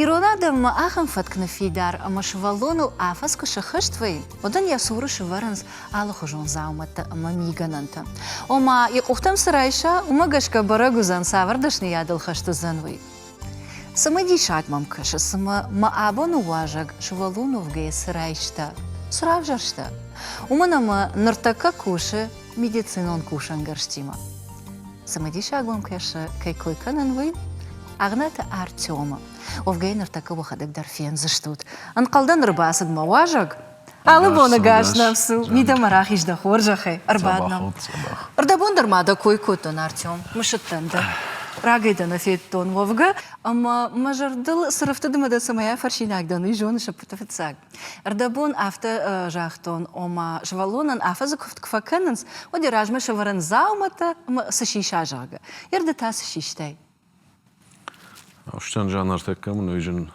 Ирон адӕммӕ ахӕм фӕтк ныффидар, ӕмӕ сывӕллоныл афӕдз куы сыххӕст вӕййы, уӕд ын йӕ цуры сывӕрынц алыхуызон дзаумӕттӕ ӕмӕ мигӕнӕнтӕ. Ома, йӕ къухтӕм цы райса, уымӕ гӕсгӕ бӕрӕг уыдзӕн, цавӕр дӕсныйадыл хӕст уыдзӕн, уый. Цымыдисаг мӕм кӕсы, цымӕ мӕ абоны уазӕг сывӕллон уӕвгӕйӕ цы райста, цы равзӕрста, уымӕн ӕмӕ ныртӕккӕ кусы медицинон кусӕнгӕрзтимӕ. Цымыдисагон кӕсы, кӕй кой кӕнын, уый? Агнӕты Артемы. Уӕвгӕ йын ныртӕккӕ уӕхӕдӕг дӕр фендзыстут. Ӕнхъӕлдӕн ӕрбацыд мӕ уазӕг? Алы боны гас нӕм цу, мидӕмӕ рахиз дӕ хорзӕхӕй, ӕрбад нӕм. Рдӕбон дӕр ма дӕ кой кодтон, Артем, мысыдтӕн дӕ. Рагӕй дӕ нӕ федтон уӕвгӕ, ӕмӕ мӕ зӕрдыл цы рыфтыд ӕмӕ дӕ цӕмӕй афӕрсинаг дӕн, уый зоныс, ӕппӕты фыццаг. Ӕрдӕбон афтӕ загътон, ома, сывӕллонӕн афӕдзы куывд куы фӕкӕнынц, уӕд йӕ размӕ сӕвӕрын дзауматӕ ӕмӕ цы сиса, зӕгъгӕ. Йӕ рды та цы систай? Астан Жан ӕртӕккӕ мын уый зын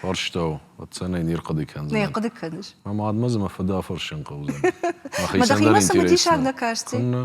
фарстау ӕцӕнӕй не рхъуыды кӕндзӕн. Нӕ хъуыды кӕныс? Мӕ мадмӕ дзы мӕ фыды афӕрсын хъӕудзӕн. Мӕхицӕн дӕр интересн у. Мӕ дӕхимӕ цымыдисаг нӕ касти? Куыннӕ.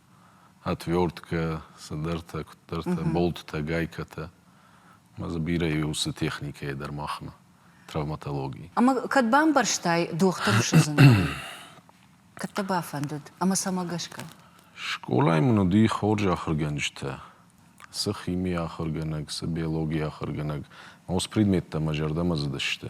отверткӕ, цыдӕртӕ, куыддӕртӕ, болтытӕ, гайкӕтӕ. Ӕмӕ дзы бирӕ у уыцы техникӕйӕ дӕр махмӕ, травматологи. Ӕмӕ кӕд бамбӕрстай дохтыры судзынадӕй? Кӕд дӕ бафӕндыд ӕмӕ цӕмӕ гӕсгӕ? Скъолайы мын уыди хорз ахуыргӕнджытӕ. Цы химийы ахуыргӕнӕг, цы биологийы ахуыргӕнӕг, ма уыцы предметтӕ мӕ зӕрдӕмӕ цыдысты.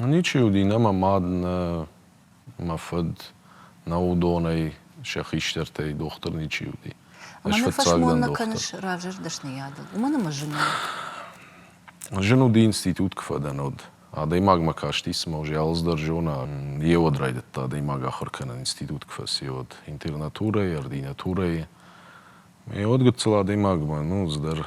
Ничи уыди нӕ мӕ мад, нӕ мӕ фыд, нӕ уыдонӕй сӕ хистӕртӕй дохтыр ничи уыди. Ӕмӕ нӕ фӕсмонмӕ кӕныс равзӕрд дӕсныйадыл, уымӕн ӕмӕ зын у. Зын уыди институт куы фӕдӕн уӕд. Адӕймагмӕ касти, цыма уый алы дӕр зона. Йеуӕд райдыдта адӕймаг ахуыр кӕнын, институт куы фӕци, уӕд. Интернатурӕйы, ординатурӕйы. Йеуӕд гыццыл адӕймагмӕ, ну, цыдӕр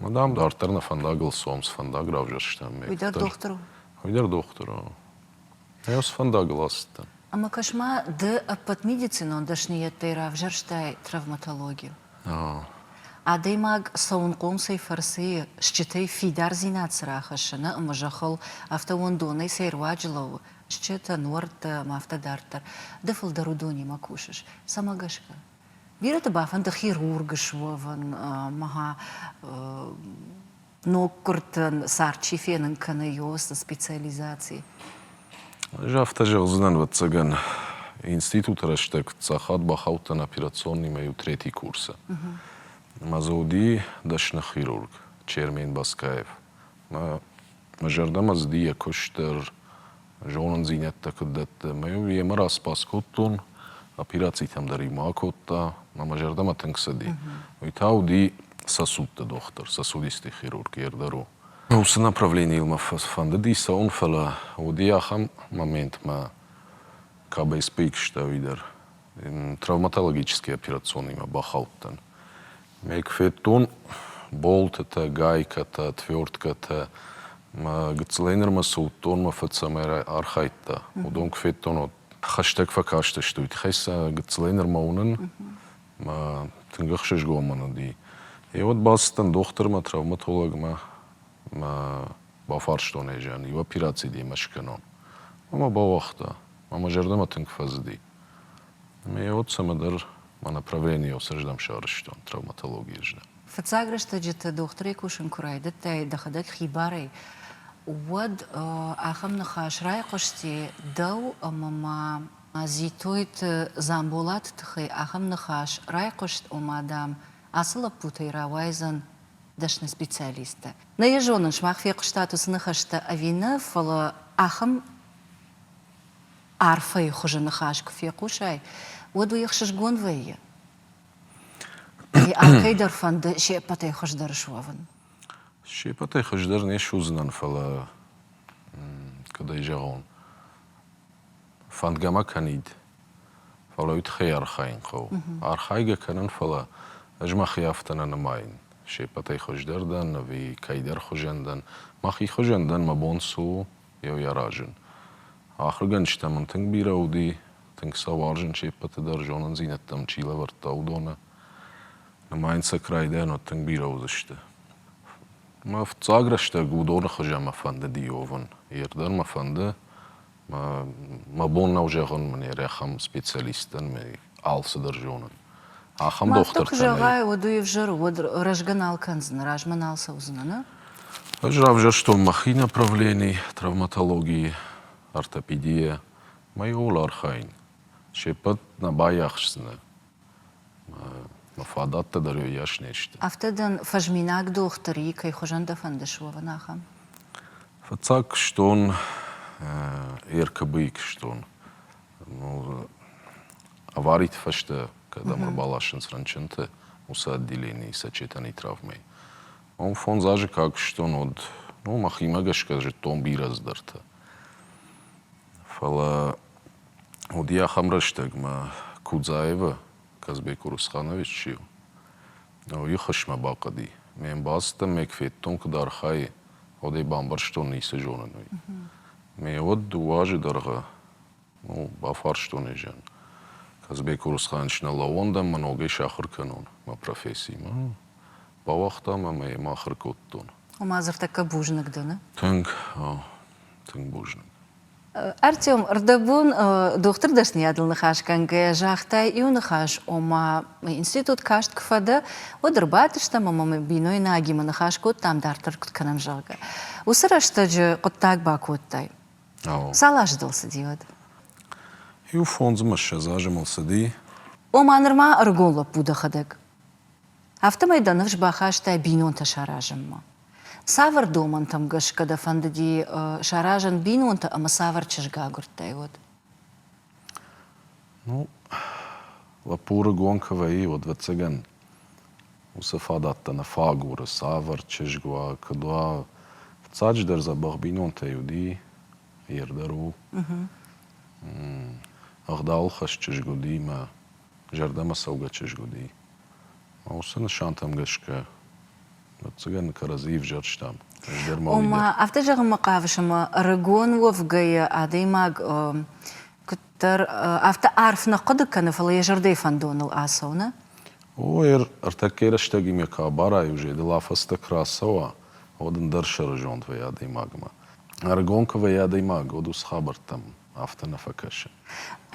Мадам, дарддӕр нӕ фӕндагыл цом, цы фӕндаг равзӕрстам мӕ Уый дӕр дохтыр у? Уый дӕр дохтыр у. Нӕ йыл цы фӕндагыл ацыдтӕн? Ӕмӕ кӕс-ма, ды ӕппӕт медицинон дӕсныйӕдтӕй равзӕрстай травматологию. Адӕймаг цӕуынхъом цӕй фӕрцы стджытӕй фидардзинад цы рахӕссы нӕ ымы зӕххыл, афтӕ уӕндонӕй цӕй руаджы лӕууы стджытӕ, нуӕрттӕ ӕмӕ афтӕ дарддӕр. Ды фылдӕр уыдонимӕ кусыс. Цӕмӕ гӕсгӕ? Бирӕты бафӕнды хирург суӕвын ӕмӕ ноггуыртӕн цард чи фенын кӕны, ЙОС-ы специализаци. Ӕз афтӕ зӕгъдзынӕн, ӕвӕццӕгӕн, институты рӕстӕг цахад бахаудтӕн операционныймӕ иу третий курсы. Мӕ дзы уыди дӕсны хирург Чермен Баскаев. Мӕ Мӕ зӕрдӕмӕ цыди йӕ куыст дӕр, зонындзинӕдтӕ куыд дӕтты. Ӕмӕ-иу йемӕ распас кодтон, операцитӕм дӕр-иу ма акодта, ӕмӕ мӕ зӕрдӕмӕ тынг цыди. Уый та уыди сосудты дохтыр, сосудистый хирург Ердару. Уыцы направленийыл мӕ фӕндыди цӕуын, фӕлӕ уыди ахӕм момент, мӕ кабӕй сбыиг сты ӕви дӕр. травматологический операционныймӕ бахаудтӕн. Мӕ куы федтон болтытӕ, гайкӕтӕ, тверткӕтӕ, мӕ гыццылӕй нырмӕ цы уыдтон, мӕ фыд цӕмӕй архайдта, уыдон куы федтон, уӕд хӕстӕг фӕкастысты. Уый тыххӕй сӕ гыццылӕй нырмӕ уынын мӕ тынг ӕхсызгон мын уыди. Йеуӕд бацыдтӕн дохтырмӕ, травматологмӕ. Мӕ бафарстон ӕз, иу операци демӕ скӕнон. Мӕ мӕ бауагъта. Мӕ мӕ зӕрдӕмӕ тынг фӕцыди. Ме отт цӕмӕдӕр мӕ направленийыл сырдӕм сӕрыстон, травматологийы здӕхт. Фыццаг рӕстӕджыты дохтырӕй кусын куы райдыдтай дӕхӕдӕг хибарӕй, уӕд ахӕм ныхас райхъуысти дӕу ӕмӕ ма Дзитойты Дзамболаты тыххӕй ахӕм ныхас райхъуыст, ома, дам, ацы лӕппутӕй рауайдзӕн дӕсны специалисттӕ. Нӕ йӕ зонын, сымах фехъуыстат уыцы ныхӕстӕ ӕви нӕ, фӕлӕ ахӕм арфӕйы хуызы ныхас куы фехъусай, уӕд уый ӕхсызгон вӕййы. Кӕйдӕр фӕнды се ппӕтӕй хуыздӕр суӕвын. Се ппӕтӕй хуыздӕр не суыдзынӕн, фӕлӕ кӕд ӕй зӕгъон, фӕндгӕ ма кӕнид, фӕлӕ уый тыххӕй архайын хъӕуы. Архайгӕ кӕнын, фӕлӕ ӕз мӕхи афтӕ нӕ нымайын. Се ппӕтӕй хуыздӕр дӕн ӕви кӕйдӕр хуызӕн дӕн. Мӕхи хуызӕн дӕн, мӕ бон цы у, йӕ аразын. Ахуыргӕнджытӕ мын тынг бирӕ уыди, тынг сӕ уарзын се ппӕты дӕр, зонындзинӕдтӕм чи лӕвӕрдта, уыдоны. Нымайын сӕ кӕй райдайӕн уӕд тынг бирӕ уыдзысты. Мӕ фыццаг рӕстӕг уыдоны хуызӕн мӕ фӕндыди уӕвын. Йе рдӕм мӕ фӕнды, мӕ бон нӕу зӕгъын, мын йӕ рӕхӕм специалисттӕн, мӕ алцыдӕр зоны. Ахӕм дохтыртӕ. Куы зӕгъай, уӕд уый ӕвзӕр, уӕд рӕзгӕ нал кӕндзынӕ, размӕ нал цӕудзынӕ, нӕ? Ӕз равзӕрстон мӕхи направлений травматологии, ортопедийӕ. Мӕ иууыл архайын. Се ппӕт нӕ байахсдзынӕ. Мӕ фадаттӕ дӕр йас не сты. Афтӕ дын фӕзминаг дохтыр и, кӕй хуызӕн дӕ фӕнды суӕвын, ахӕм? Фыццаг куыстон РКБ-йы куыстон. авариты фӕстӕ, кӕдӕм ӕрбаласынц рынчынты, уыцы отделенийы сочетанийы травмӕйы, уым фондз азы куы акуыстон, уӕд ну мӕхимӕ гӕсгӕ зыдтон бирӕ цыдӕртӕ. Фӕлӕ уыди ахӕм рӕстӕгмӕ Кудзаевы, Казбек Урусханович чи у, уый хӕсмӕ бахъӕди. Ме мбӕлцттӕм ме кветтон куыд архайы, уӕд ӕй бамбӕрстон, ницы зонын, уый. Ме уӕд дыууӕ азы дӕргъы Бафарстон ӕй зиан. Казбек Урусханович, нӕ лӕууон дӕм мӕ ногӕй сахуыр кӕнон мӕ профессиимӕ? Бауагътам ӕмӕ йӕм ахуыр кодтон. Ома дзыртӕккӕ бузныг дыны? Тынг, тынг бузныг. Артем, ӕрдӕбон дохтыр дӕсныйадыл ныхасгӕнгӕ загътай иу ныхас, ома институт каст куы фӕдӕ, уӕд ӕрбадтыстӕм ӕмӕ мӕ бинойнагимӕ ныхас кодтам, дарддӕр куыд кӕнӕм, зӕгъгӕ. Уыцы рӕстӕджы хъуыддаг бакодтай? Цал азы дыл цыди уӕд? Иу фондзмыссӕдз азы мыл цыди. Ома нырма ӕрыгон лӕппу дӕхӕдӕг. Афтӕмӕй дӕ ныфс бахастай бинонтӕ саразынмӕ. Цавӕр домӕнтӕм гӕсгӕ дӕ фӕндыди саразын бинонтӕ ӕмӕ цавӕр чызг агуырдтай уӕд? Ну, лӕппу рыгон куы вӕййы, уӕд, ӕвӕццӕгӕн, уыцы фадаттӕ нӕ фаг у, цавӕр чызг уа, куыд уа. Фыццаджыдӕр дзӕбӕх бинонтӕй уыди, йе рдӕр у. Ӕгъдауыл хӕс чызг уыди мӕ зӕрдӕмӕ цӕугӕ чызг уыди. Уыцы нысантӕм гӕсгӕ ӕвӕццӕгӕн кӕрӕдзи ӕвзӕрстам. Раздӕр ма Ома, афтӕ зӕгъынмӕ хъавыс, ӕмӕ ӕрыгон уӕвгӕйӕ адӕймаг куыддӕр афтӕ арф нӕ хъуыды кӕны, фӕлӕ йӕ зӕрдӕйы фӕндоныл ацӕуны? О, ӕртӕккӕй рӕстӕгимӕ куы абарай, зӕдыл афӕдзтӕ куы рацӕуа, уӕд ӕндӕр сӕрызонд вӕййы адӕймагмӕ. Ӕрыгон куы вӕййы адӕймаг, уӕд уыцы хабӕрттӕм афтӕ нӕ фӕкӕсы.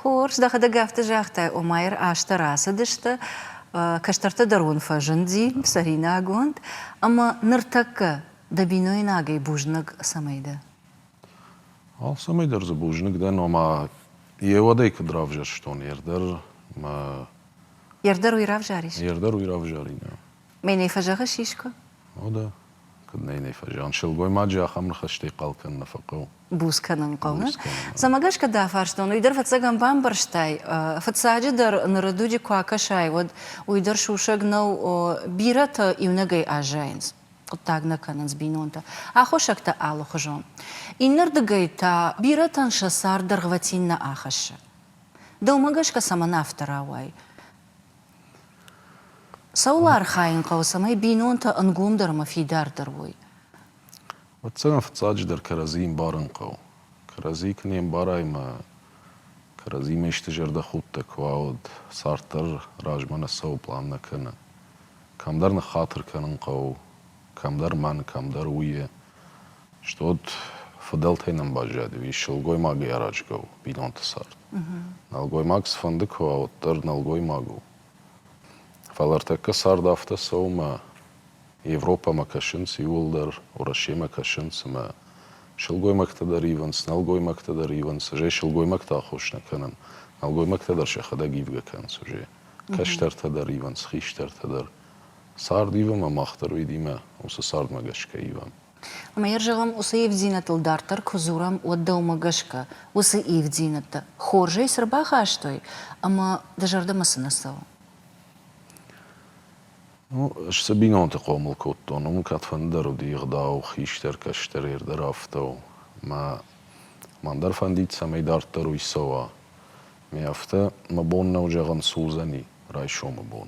Хорз, дӕхӕдӕг афтӕ загътай, Омайыр азтӕ рацыдысты, кӕстӕртӕ дӕр уын фӕзынди цӕринагонд, ӕмӕ ныртӕккӕ дӕ бинойнагӕй бузныг цӕмӕй дӕ? Алцӕмӕй дӕр дзы бузныг дӕн, ома йе уӕдӕй куыд равзӕрстон, йе рдӕр мӕ. Йе рдӕр уый равзарис? Йе рдӕр уый равзарин, ӕ. Мӕнӕй фӕзӕгъыс искуы? О, да. Куыд нӕ нӕ фӕзиан, сылгоймаджы ахӕм ныхӕстӕй хъал кӕнын нӕ фӕхъӕуы. Буц кӕнын хъӕуы. Цӕмӕ гӕсгӕ дӕ фарстон, уый дӕр фыццӕгӕм бамбӕрстай? Фыццаджыдӕр, ныры дуджы куы акӕсай, уӕд уый дӕр сусӕг нӕу. Бирӕтӕ иунӕгӕй аззайынц, хъуыддаг нӕ кӕнынц бинонтӕ, аххосӕгтӕ алыхуызон. Иннӕрдыгӕй та бирӕтӕн сӕ цард дӕргъвӕтин нӕ ахӕссы. Дӕумӕ гӕсгӕ цӕмӕн афтӕ рауайы? Цӕуыл архайын хъӕуы, цӕмӕй бинонтӕ ӕнгомдӕрмӕ фидардӕр уой? Уыдтӕн фыццаджыдӕр кӕрӕдзи ӕмбарын хъӕуы. Кӕрӕдзи куы не мбарай мӕ кӕрӕдзимӕ исты зӕрдӕхудтӕ куы уа, уӕд цард дӕр размӕ нӕ цӕуы, план нӕ кӕны. Кӕмдӕр ныххатыр кӕнын хъӕуы, кӕмдӕр мӕн, кӕмдӕр уййе. Стот фыдӕлтӕй нӕм баззади, ис сылгоймагӕй аразгӕ у бинонты цард. Нӕлгоймаг цыфӕнды куы уа, уӕддӕр нӕлгоймаг у. Фӕлӕ ӕртӕккӕ цард афтӕ цӕуы мӕ Европӕмӕ кӕсынц иууылдӕр, Уӕрӕсемӕ кӕсынц ӕмӕ сылгоймӕгтӕ дӕр ивынц, нӕлгоймӕгтӕ дӕр ивынц, ызӕй сылгоймӕгты аххос нӕ кӕнӕм, нӕлгоймӕгтӕ дӕр сӕхӕдӕг ивгӕ кӕнынц ызӕй, кӕстӕртӕ дӕр ивынц, хистӕртӕ дӕр. Цард ивӕмӕ мах дӕр уыйдимӕ уыцы цардмӕ гӕсгӕ ивӕм. Ӕмӕ йӕ зӕгъӕм, уыцы ивддзинӕдтыл дарддӕр куы дзурӕм, уӕд дӕумӕ гӕсгӕ, уыцы ивддзинӕдтӕ хорзӕй цы рбахастой ӕмӕ дӕ зӕрдӕмӕ цы нӕ цӕуы? Ну, ӕз цы бинонты хъомыл кодтон, уым кӕдфӕндыдӕр уыди ӕгъдау хистӕр-кӕстӕр йӕ дӕр афтӕ у. Мӕ мӕн дӕр фӕндид, цӕмӕй дарддӕр уый цӕуа. Ме афтӕ, мӕ бон нӕу зӕгъын, сурдзӕни райсомы бон.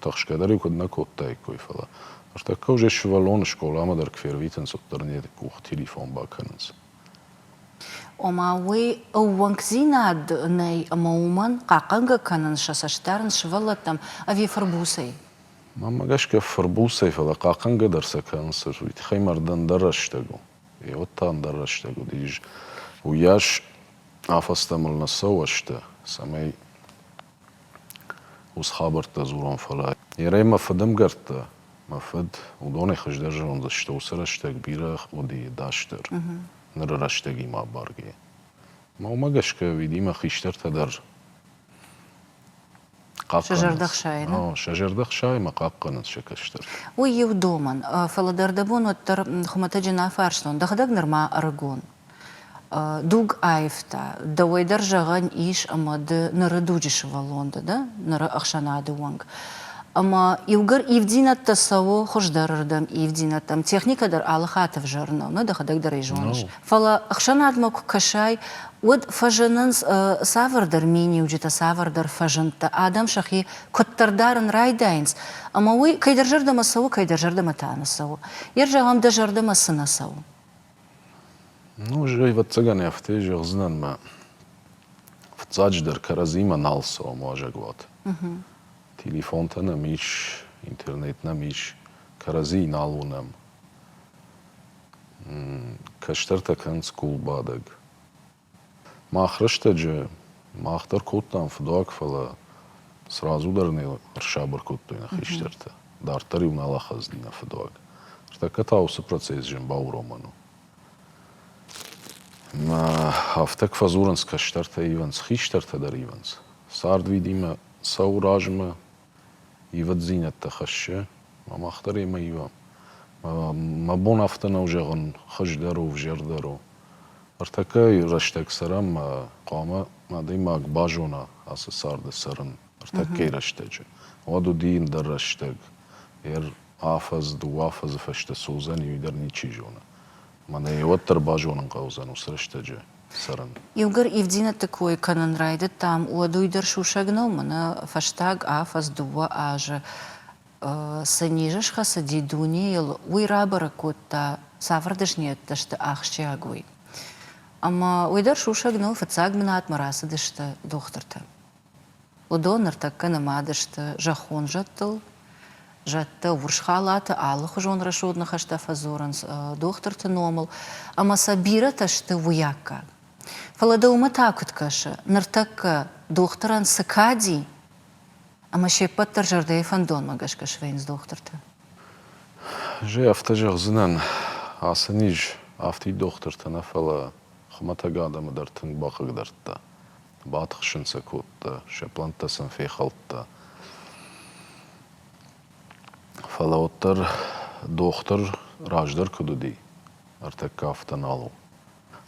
Тӕхсгӕ дӕр-иу куыд нӕ кодтаиккой, фӕлӕ. Ӕртӕккӕ уыдзӕй сывӕллоны скъоламӕ дӕр квервитынц, уӕддӕр не къух телефон бакӕнынц. Ома, уый ӕууӕнкдзинад нӕй ӕмӕ уымӕн хъахъхъӕнгӕ кӕнын сӕ цӕст дарынц сывӕллӕттӕм ӕви фырбуцӕй? Мӕнмӕ гӕсгӕ фырбуцӕй, фӕлӕ хъахъхъӕнгӕ дӕр сӕ кӕнынц, уый тыххӕй мӕ рдӕм ӕндӕр рӕстӕг у. Гъеуӕд та ӕндӕр рӕстӕг уыдис. Уыйас афӕдзтӕ мыл нӕ цӕуӕ сты, цӕмӕй Ус хабӕрттӕ дзурон, фӕлӕ. Ерӕй мӕ фыдӕмгӕрттӕ, мӕ фыд, уыдонӕй хуыздӕр зондзысты уыцы рӕстӕг бирӕ къодийы дастдӕр, ныры рӕстӕгимӕ абаргӕйӕ. Ма уымӕ гӕсгӕ уидимӕ хистӕртӕ дӕр хъахъхъӕнынц. Сӕ зӕрдӕ хсайы, нӕ? Сӕ зӕрдӕ хсайы мӕ хъахъхъӕнынц сӕ кӕстӕртӕ. Уый иу домӕн, фӕлӕ дӕр дӕ бон уӕддӕр хуымӕтӕджы нӕ фарстон, дӕхӕдӕг нырма ӕрыгон. Дуг аивта. Дӕуӕй дӕр зӕгъӕн ис ӕмӕ ды ныры дуджы сывӕллон дӕ, дӕ ныры ӕхсӕнады уӕнг. Ӕмӕ иугӕр ивддзинӕдтӕ цӕуы хуыздӕрырдӕм ивддзинӕдтӕм, техникӕ дӕр алы-хатт ӕвзӕр нӕу, нӕ дӕхӕдӕг дӕр ӕй зоныс. Фӕлӕ ӕхсӕнадмӕ куы кӕсай, уӕд фӕзынынц цавӕрдӕр миниуджытӕ, цавӕрдӕр фӕзындтӕ, адӕм сӕхи куыддӕр дарын райдайынц, ӕмӕ уый кӕйдӕр зӕрдӕмӕ цӕуы, кӕйдӕр зӕрдӕмӕ та нӕ цӕуы. Йе рзӕгъӕм, дӕ зӕрдӕмӕ цы нӕ цӕуы? Ну уый зӕгъ, ӕвӕццӕгӕн афтӕ зӕгъдзынӕн мӕ фыццаджыдӕр кӕрӕдзимӕ нал цӕуӕм уазӕгуаты. Телефонтӕ нӕм ис, интернет нӕм ис, кӕрӕдзийы нал уынӕм. Кӕстӕртӕ кӕнынц къулбадӕг. Мах рӕстӕджы мах дӕр кодтам фыдуаг, фӕлӕ сразу дӕр нӕ ӕрсабыр кодтой нӕ хистӕртӕ. Дарддӕр-иу нал ахъазыди нӕ фыдуаг. Ныртӕккӕ та уыцы процесс зын бауромӕн у. Афтӕ куы фӕдзурынц кӕстӕртӕ, ивынц, хистӕртӕ дӕр ивынц. Цард видимӕ цӕуы размӕ, ивӕддзинӕдтӕ хӕссы. Мах дӕр емӕ ивӕм. Мӕ бон афтӕ нӕу зӕгъын, хуыздӕр у, ӕвзӕрдӕр у. Ӕртӕкӕйы рӕстӕг цӕрӕм мӕ хъуамӕ адӕймаг базона ацы царды цӕрын ӕртӕкӕйы рӕстӕджы. Уӕд уыди ӕндӕр рӕстӕг. Ӕр афӕдз, дыууӕ афӕдзы фӕстӕ цы уыдзӕн, уый дӕр ничи зоны. Мӕнӕ уӕддӕр базонын хъӕудзӕн уыцы рӕстӕджы цӕрын. Иугӕр ивдинӕтты кой кӕнын райдыдтам, уӕд уый дӕр сусӕг нӕу, мӕнӕ фӕстаг афӕдз дыууӕ азы цы низы схӕцыди дунейыл, уый рабӕрӕг кодта, цавӕр дӕсныйӕдтӕ сты ахсджиагой. Ӕмӕ уый дӕр сусӕг нӕу, фыццаг бынатмӕ рацыдысты дохтыртӕ. Уыдон ныртӕккӕ нымад сты зӕххон зӕдтыл. Зӕдтӕ урс халаты алыхуызон рӕсугъд ныхӕстӕ фӕдзурынц дохтырты номыл, ӕмӕ сӕ бирӕтӕ сты уыйаккаг. Фӕлӕ дӕ уымӕ та куыд кӕсы, ныртӕккӕ дохтырӕн цы кади? Ӕмӕ се ппӕт дӕр зӕрдӕйы фӕндонмӕ гӕсгӕ свӕййынц дохтыртӕ. Гъе афтӕ зӕгъдзынӕн, ацы низ афтид дохтыртӕ нӕ, фӕлӕ хуымӕтӕг адӕмы дӕр тынг бахъыгдардта. Батыхсын сӕ кодта, сӕ плӕнттӕ сын фехӕлдта. Фӕлӕ уӕддӕр дохтыр раздӕр куыд уыди, ӕртӕккӕ афтӕ нал у.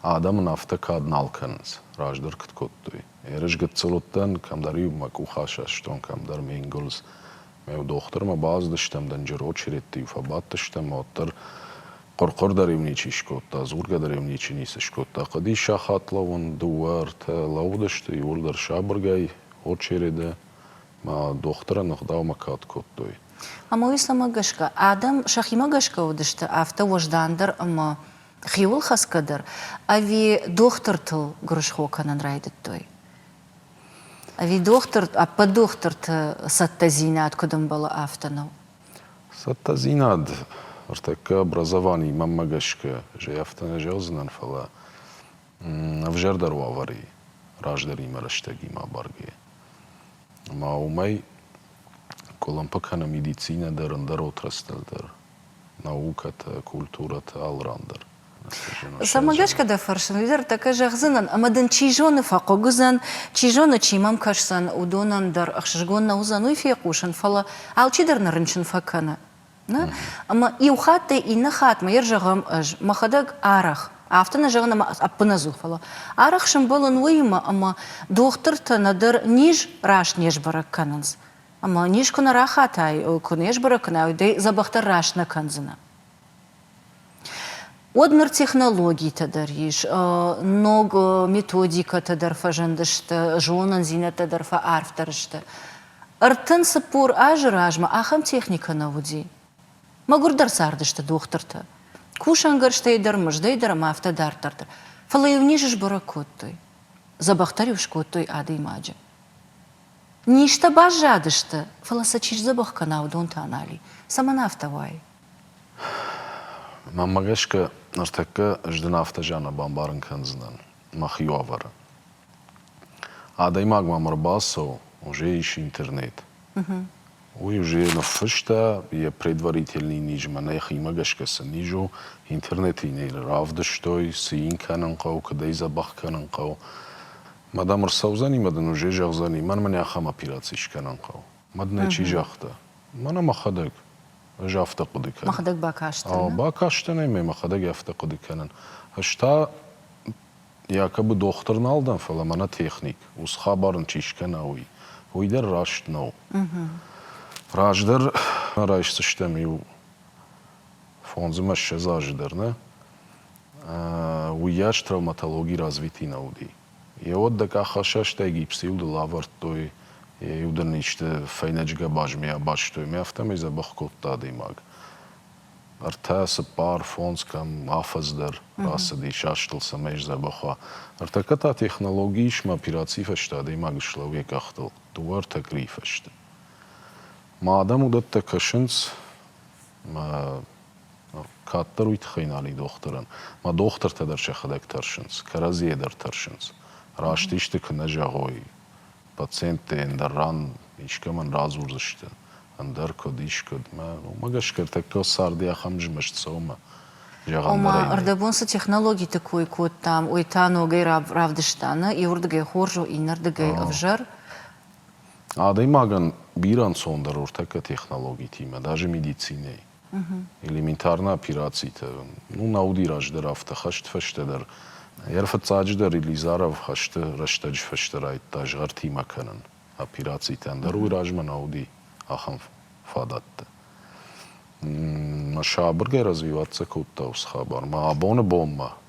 Адӕм ын афтӕ кад нал кӕнынц, раздӕр куыд кодтой. Ерыс гыццыл уыдтӕн, кӕмдӕр-иу мӕ къух асастон, кӕмдӕр ме нгуылдз. Дохтырмӕ бацыдыстӕм, дӕнджыр очередты-иу фӕбадтыстӕм, уӕддӕр хъуыр-хъуыр дӕр-иу ничи скодта, дзургӕ дӕр-иу ничи ницы скодта. Хъуыди сахат лӕууын, дыууӕ, ӕртӕ лӕууыдысты, иуырдӕр сабыргай, очереды, мӕ дохтырӕн ӕгъдаумӕ кад кодтой. Амоисламӕ гӕсгӕ, адӕм сӕхимӕ гӕсгӕ уыдысты, афтӕ уӕздандӕр ӕмӕ хиуылхӕцгӕ дӕр, ӕви дохтыртыл гуырысхо кӕнын райдыдтой? Ӕви дохтыр, ӕппӕт дохтырты цӕттӕдзинад куыд ӕмбӕлы, афтӕ нӕу? Цӕттӕдзинад ӕртӕккӕ образованийы мӕнмӕ гӕсгӕ зӕй афтӕ нӕ зӕгъдзынӕн, фӕлӕ ӕвзӕрдӕр уавӕры раздӕримӕ рӕстӕгимӕ абаргӕйӕ. Ӕмӕ уымӕй къуылымпы кӕны медицинӕ дӕр, ӕндӕр отраслтыл дӕр. наукӕтӕ, культурӕтӕ алырандӕр. Цӕмӕ гӕсгӕ дӕ фӕрсын, уый дӕр тӕккӕ зӕгъдзынӕн, ӕмӕ дын чи зоны фӕхъыг уыдзӕн, чи зоны, чи мӕм кӕсдзӕн, уыдонӕн дӕр ӕхсызгон нӕ уыдзӕн уый фехъусын, фӕлӕ алчидӕр нӕ рынчын фӕкӕны. Нӕ? Ӕмӕ иу хатт дӕ иннӕ хатмӕ йӕр зӕгъӕм ӕз, мӕхӕдӕг арӕх, афтӕ нӕ зӕгъын ӕмӕ ӕппынӕдзух, фӕлӕ арӕх сӕмбӕлын уыимӕ, ӕмӕ дохтыртӕ нӕдӕр низ раст не сбӕрӕг кӕнынц, Ӕмӕ низ куы нӕ рахатай, куы не сбӕрӕг кӕнай, уый дзӕбӕхдӕр раст нӕ кӕндзынӕ. Уӕд ныр технологитӕ дӕр ис, ног методикӕтӕ дӕр фӕзындысты, зонындзинӕдтӕ дӕр фӕарфдӕр сты. Ӕртын цыппор азы размӕ ахӕм техникӕ нӕ уыди. Мӕгуырдӕр цардысты дохтыртӕ. Кусӕнгӕрзтӕй дӕр, мыздӕй дӕр ӕмӕ афтӕ дарддӕр дӕр. Фӕлӕ-иу низ сбӕрӕг кодтой. Дзӕбӕхдӕр-иу скодтой адӕймаджы. Низтӕ баззадысты, фӕлӕ сӕ чи сдзӕбӕх кӕна, уыдон та нал и. Цӕмӕн афтӕ уай? Мӕнмӕ гӕсгӕ, ныртӕккӕ ӕз дын афтӕ зиан бамбарын кӕндзынӕн, мӕхи уавӕры. Адӕймаг мӕм ӕрбацӕуы, уже ис интернет. Уый уже ныффыста, йӕ предварительный низ мӕнӕ йӕхимӕ гӕсгӕ цы низ у, интернеты йын ӕй равдыстой, цы йын кӕнын хъӕуы, куыд ӕй дзӕбӕх кӕнын хъӕуы. Мадам ӕрцӕудзӕнимӕ дын уже зӕгъдзӕни, мӕн мын ахӕм операци скӕнын хъӕуы. Мад нӕ чи загъта? Мӕнӕ мӕхӕдӕг. Ӕз афтӕ хъуыды кӕнын. Мӕхӕдӕг бакастӕн? Ау, бакастӕн ӕй мӕ мӕхӕдӕг афтӕ хъуыды кӕнын. Ӕз та якобы дохтыр нал дӕн, фӕлӕ мӕнӕ техник, уыцы хабар ын чи скӕна, уый. Уый дӕр раст нӕу. Раздӕр райсдзыстӕм иу фондз ӕмӕ ссӕдз азы дӕр нӕ, уыйас травматологи развитый нӕ уыди. Йеуӕд дӕ къахфӕсӕстӕй гипсыйыл дыл авӕрдтой, йӕ иу дын исты фӕйнӕджы гӕбазмӕ абастой мӕ афтӕмӕй дзӕбӕх кодта адӕймаг. Ӕртӕ, цыппар, фондз кӕм, афӕдз дӕр рацыди, састыл цӕмӕй сдзӕбӕх уа. Ӕртӕккӕ та технологи ис мӕ операцийы фӕстӕ адӕймаг ыслӕуы йӕ къӕхтыл, дыууӕ-ӕртӕ къуырийы фӕсты. Ма адӕм уыдӕттӕ кӕсынц мӕ кӕддӕр уый тыххӕй нал и дохтырӕн. Мӕ дохтыртӕ дӕр сӕхӕдӕг тӕрсынц, кӕрӕдзийӕ дӕр тӕрсынц. Раст исты куы нӕ зӕгъой пациенттӕ, ӕндӕр ран искӕмӕн радзурдзысты, ӕндӕр куыд, ис куыд. Мӕ уымӕ гӕсгӕ ӕртӕккӕ царды ахӕм змӕст цӕуы, зӕгъӕн дӕр ӕй нӕй. Ӕрдӕбон цы технологиты кой кодтам, уый та ногӕй равдыста, нӕ иуырдыгӕй хорз у, иннӕрдыгӕй ӕвзӕр. Адӕймагӕн бирӕ ӕнцондӕр ӕртӕккӕ технологитимӕ, даже медицинӕйы. Элементарнӕ операцитӕ. Ну, нӕ уыди раздӕр афтӕ хӕст фӕстӕдӕр. Йӕ рфыццаджыдӕр Иллизаров хӕсты рӕстӕджы фӕстӕ райдта згъӕртимӕ кӕнын. Операцитӕн дӕр уый размӕ нӕ уыди ахӕм фадӕттӕ. Мӕ сабыргай развивӕццӕ кодта уыцы хабар мӕ абоны бонмӕ.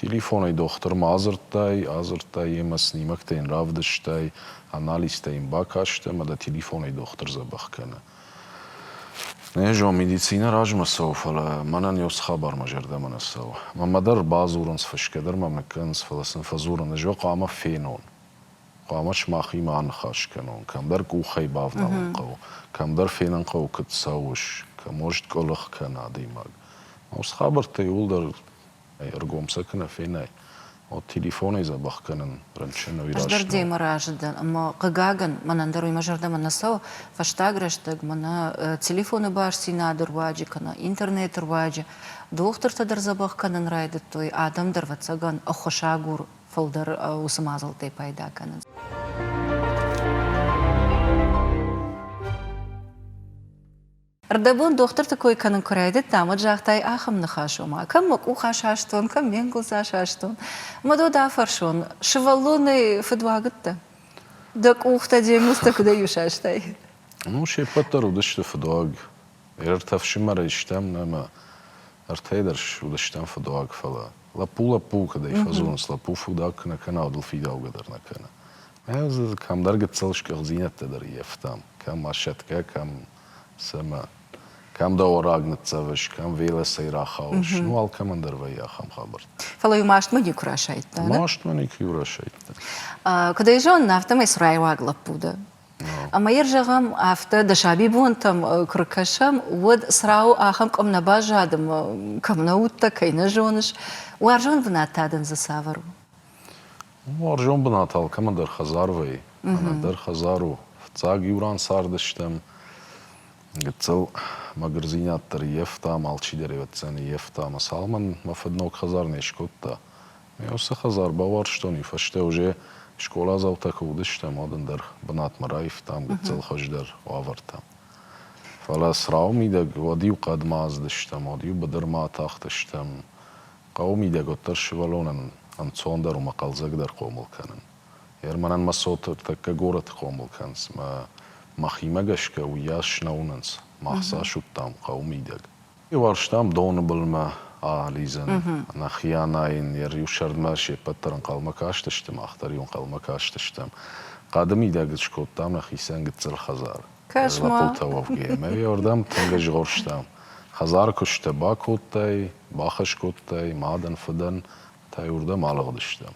Телефонӕй дохтырмӕ адзырдтай, адзырдтай йемӕ, снимӕгтӕ йын равдыстай, анализтӕ йын бакастай ӕмӕ дӕ телефонӕй дохтыр дзӕбӕх кӕны. Не зон, медицинӕ размӕ цӕуы, фӕлӕ мӕнӕн иу цы хабар мӕ зӕрдӕмӕ нӕ цӕуы. Мӕмӕ дӕр бадзурынц, фысгӕ дӕр мӕм нӕ кӕнынц, фӕлӕ сын фӕдзурын, ӕз уӕ хъуамӕ фенон. Хъуамӕ сымахимӕ аныхас кӕнон, кӕмдӕр къухӕй бавналын хъӕуы, кӕмдӕр фенын хъӕуы, куыд цӕуыс, кӕм уӕзт къуылых кӕны адӕймаг. Мӕ уыцы хабӕрттӕ иууылдӕр ӕргом сӕ куы нӕ фенай, уӕд телефонӕй дзӕбӕх кӕнын рынчыныл ирӕзт. Ӕз дӕр демӕ разы дӕн, ӕмӕ, хъыгагӕн, мӕнӕн дӕр уый мӕ зӕрдӕмӕ нӕ цӕуы, фӕстаг рӕстӕг мӕнӕ телефоны бастдзинады руаджы кӕнӕ интернеты руаджы дохтыртӕ дӕр дзӕбӕх кӕнын райдыдтой, адӕм дӕр, ӕвӕццӕгӕн, ӕххуысагур фылдӕр уыцы мадзӕлттӕй пайда кӕнынц. Ӕрдӕбон дохтырты кой кӕнын куы райдыдтам, уӕд загътай ахӕм ныхас, ома, кӕм мӕ къух асастон, кӕм ме нгуылдз асастон. Мӕ дод афӕрсон, сывӕллонӕй фыдуагыдтӕ? Дӕ къухтӕ, де нгуылдзтӕ куыдӕй исастай? Ну, се ппӕт дӕр уыдысты фыдуаг. Йе ртӕ фсымӕрӕй стӕм ӕмӕ ӕртӕ дӕр уыдыстӕм фыдуаг, фӕлӕ лӕппу лӕппуы кӕдӕй фӕзонынц, лӕппу фыдуаг куы нӕ кӕна, уӕд ыл фидаугӕ дӕр нӕ кӕны. Ӕз кӕмдӕр гыццыл скъӕхдзинӕдтӕ дӕр ййӕфтам, кӕм асӕтгӕ, кӕм Цӕмӕ? Кӕм дӕ ораг ныццӕвыс, кӕм велосӕй рахауыс? Ну, алкӕмӕн дӕр вӕййы ахӕм хабӕрттӕ. Фӕлӕ-иу мастмӕ никуы расайдта, да? Мастмӕ никуы-иу расайдта. Куыд ӕй зонын, афтӕмӕй цураиуаг лӕппу дӕ. Ӕмӕ йӕ зӕгъӕм, афтӕ дӕ сабибонтӕм куы ркӕсӕм, уӕд црауы ахӕм къуым нӕ баззад ӕмӕ кӕм нӕ уыдтӕ, кӕй нӕ зоныс. Уарзон бынат та дын дзы цавӕр у? Уарзон бынат алкӕмӕдӕр хӕдзар вӕййы. Ӕнӕдӕр хӕдзар у. Фыццаг иу ран цардыстӕм. Гыццыл мӕгуырдзинад дӕр ййӕфтам, алчидӕр ӕвӕццӕн ййӕфта. Мӕ цалмӕн мӕ фыд ног хӕдзар не скодта. Ме уыцы хӕдзар бауарзтон, уый фӕстӕ уже скъоладзаутӕ куы уыдыстӕм, уӕд ӕндӕр бынатмӕ раивтам гыццыл хуыздӕр уавӕртӕ. Фӕлӕ црауы мидӕг уӕд-иу хъӕдмӕ ацыдыстӕм, уӕд-иу быдырмӕ атахтыстӕм. Хъӕуы мидӕг уӕддӕр сывӕллонӕн ӕнцондӕр у мӕ хъӕлдзӕгдӕр хъомыл кӕнын. Ерманӕн мӕ цоты ртӕккӕ горӕты хъомыл кӕнынц мӕ мӕхимӕ гӕсгӕ уыйас снӕуынынц, мах цас уыдтам хъӕуы мидӕг. Феварстам доны былмӕ алидзын, Нахианӕ йын йӕ риу сӕрдмӕ се ппӕт дӕр ӕнхъӕлмӕ кастысты, мах дӕр-иу ӕнхъӕлмӕ кастыстӕм. Хъӕды мидӕг скодтам нӕхицӕн гыццыл хӕдзар. Кӕс-ма! Лӕппутӕ уӕвгӕ, ӕмӕ йӕ ардӕм тынг ӕзгъорстам. Хӕдзары куыстӕ бакодтай, Бахӕс кодтай, мадӕн, фыдӕн та йы уырдӕм алыгъдыстӕм.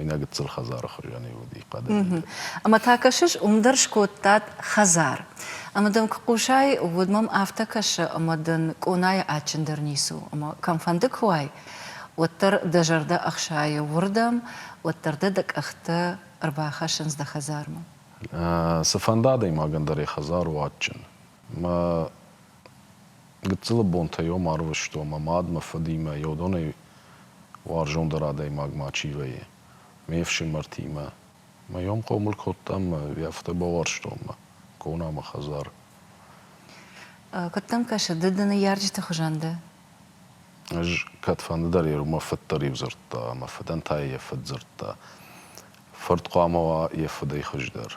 Ӕнӕ гыццыл хӕдзары хуызӕн-иу уыди хъӕдӕй. Ӕмӕ та кӕсыс, уым дӕр скодтат хӕдзар. Ӕмӕ дын куы хъусай, уӕд мӕм афтӕ кӕсы, ӕмӕ дын къонайы адджындӕр ницы у, ӕмӕ кӕмфӕнды куы уай, уӕддӕр дӕ зӕрдӕ ӕхсайы уырдӕм, уӕддӕр дӕ дӕ къӕхтӕ ӕрбахӕссынц дӕ хӕдзармӕ. Цы фӕнды адӕймагӕн дӕр йӕ хӕдзар у адджын. Мӕ Гыццылы бонтӕ йӕм арвыстон, мӕ мад, мӕ фыдимӕ, йӕ уыдонӕй уарзондӕр адӕймаг ма чи вӕййы, ме фсымӕртимӕ. Мӕ йӕм хъомыл кодтам мӕ йӕ афтӕ бауарзтон мӕ конамӕ хӕдзар. Куыд дӕм кӕсы, ды ды ныййарджыты хуызӕн дӕ? Ӕз кӕдфӕнды дӕр йӕ иумӕ фыд дӕр иу дзырдта ӕмӕ фыдӕн та йӕ фыд дзырдта. Фырт хъуамӕ уа йӕ фыдӕй хуыздӕр.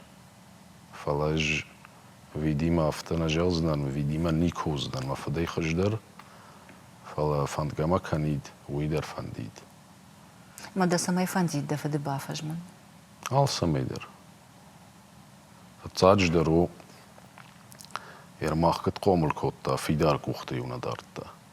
Фӕлӕ ӕз Ведимӕ афтӕ нӕ зӕгъдзынӕн, Ведимӕ никуы уыдзынӕн мӕ фыдӕй хуыздӕр, фӕлӕ фӕндгӕ ма кӕнид, уый дӕр фӕндид. Мӕ дӕ цӕмӕй фӕндид дӕ фыды бафӕзмын? Алцӕмӕй дӕр. Фыццаджыдӕр у, Ермак куыд хъомыл кодта, фидар къухты-иу нӕ дардта.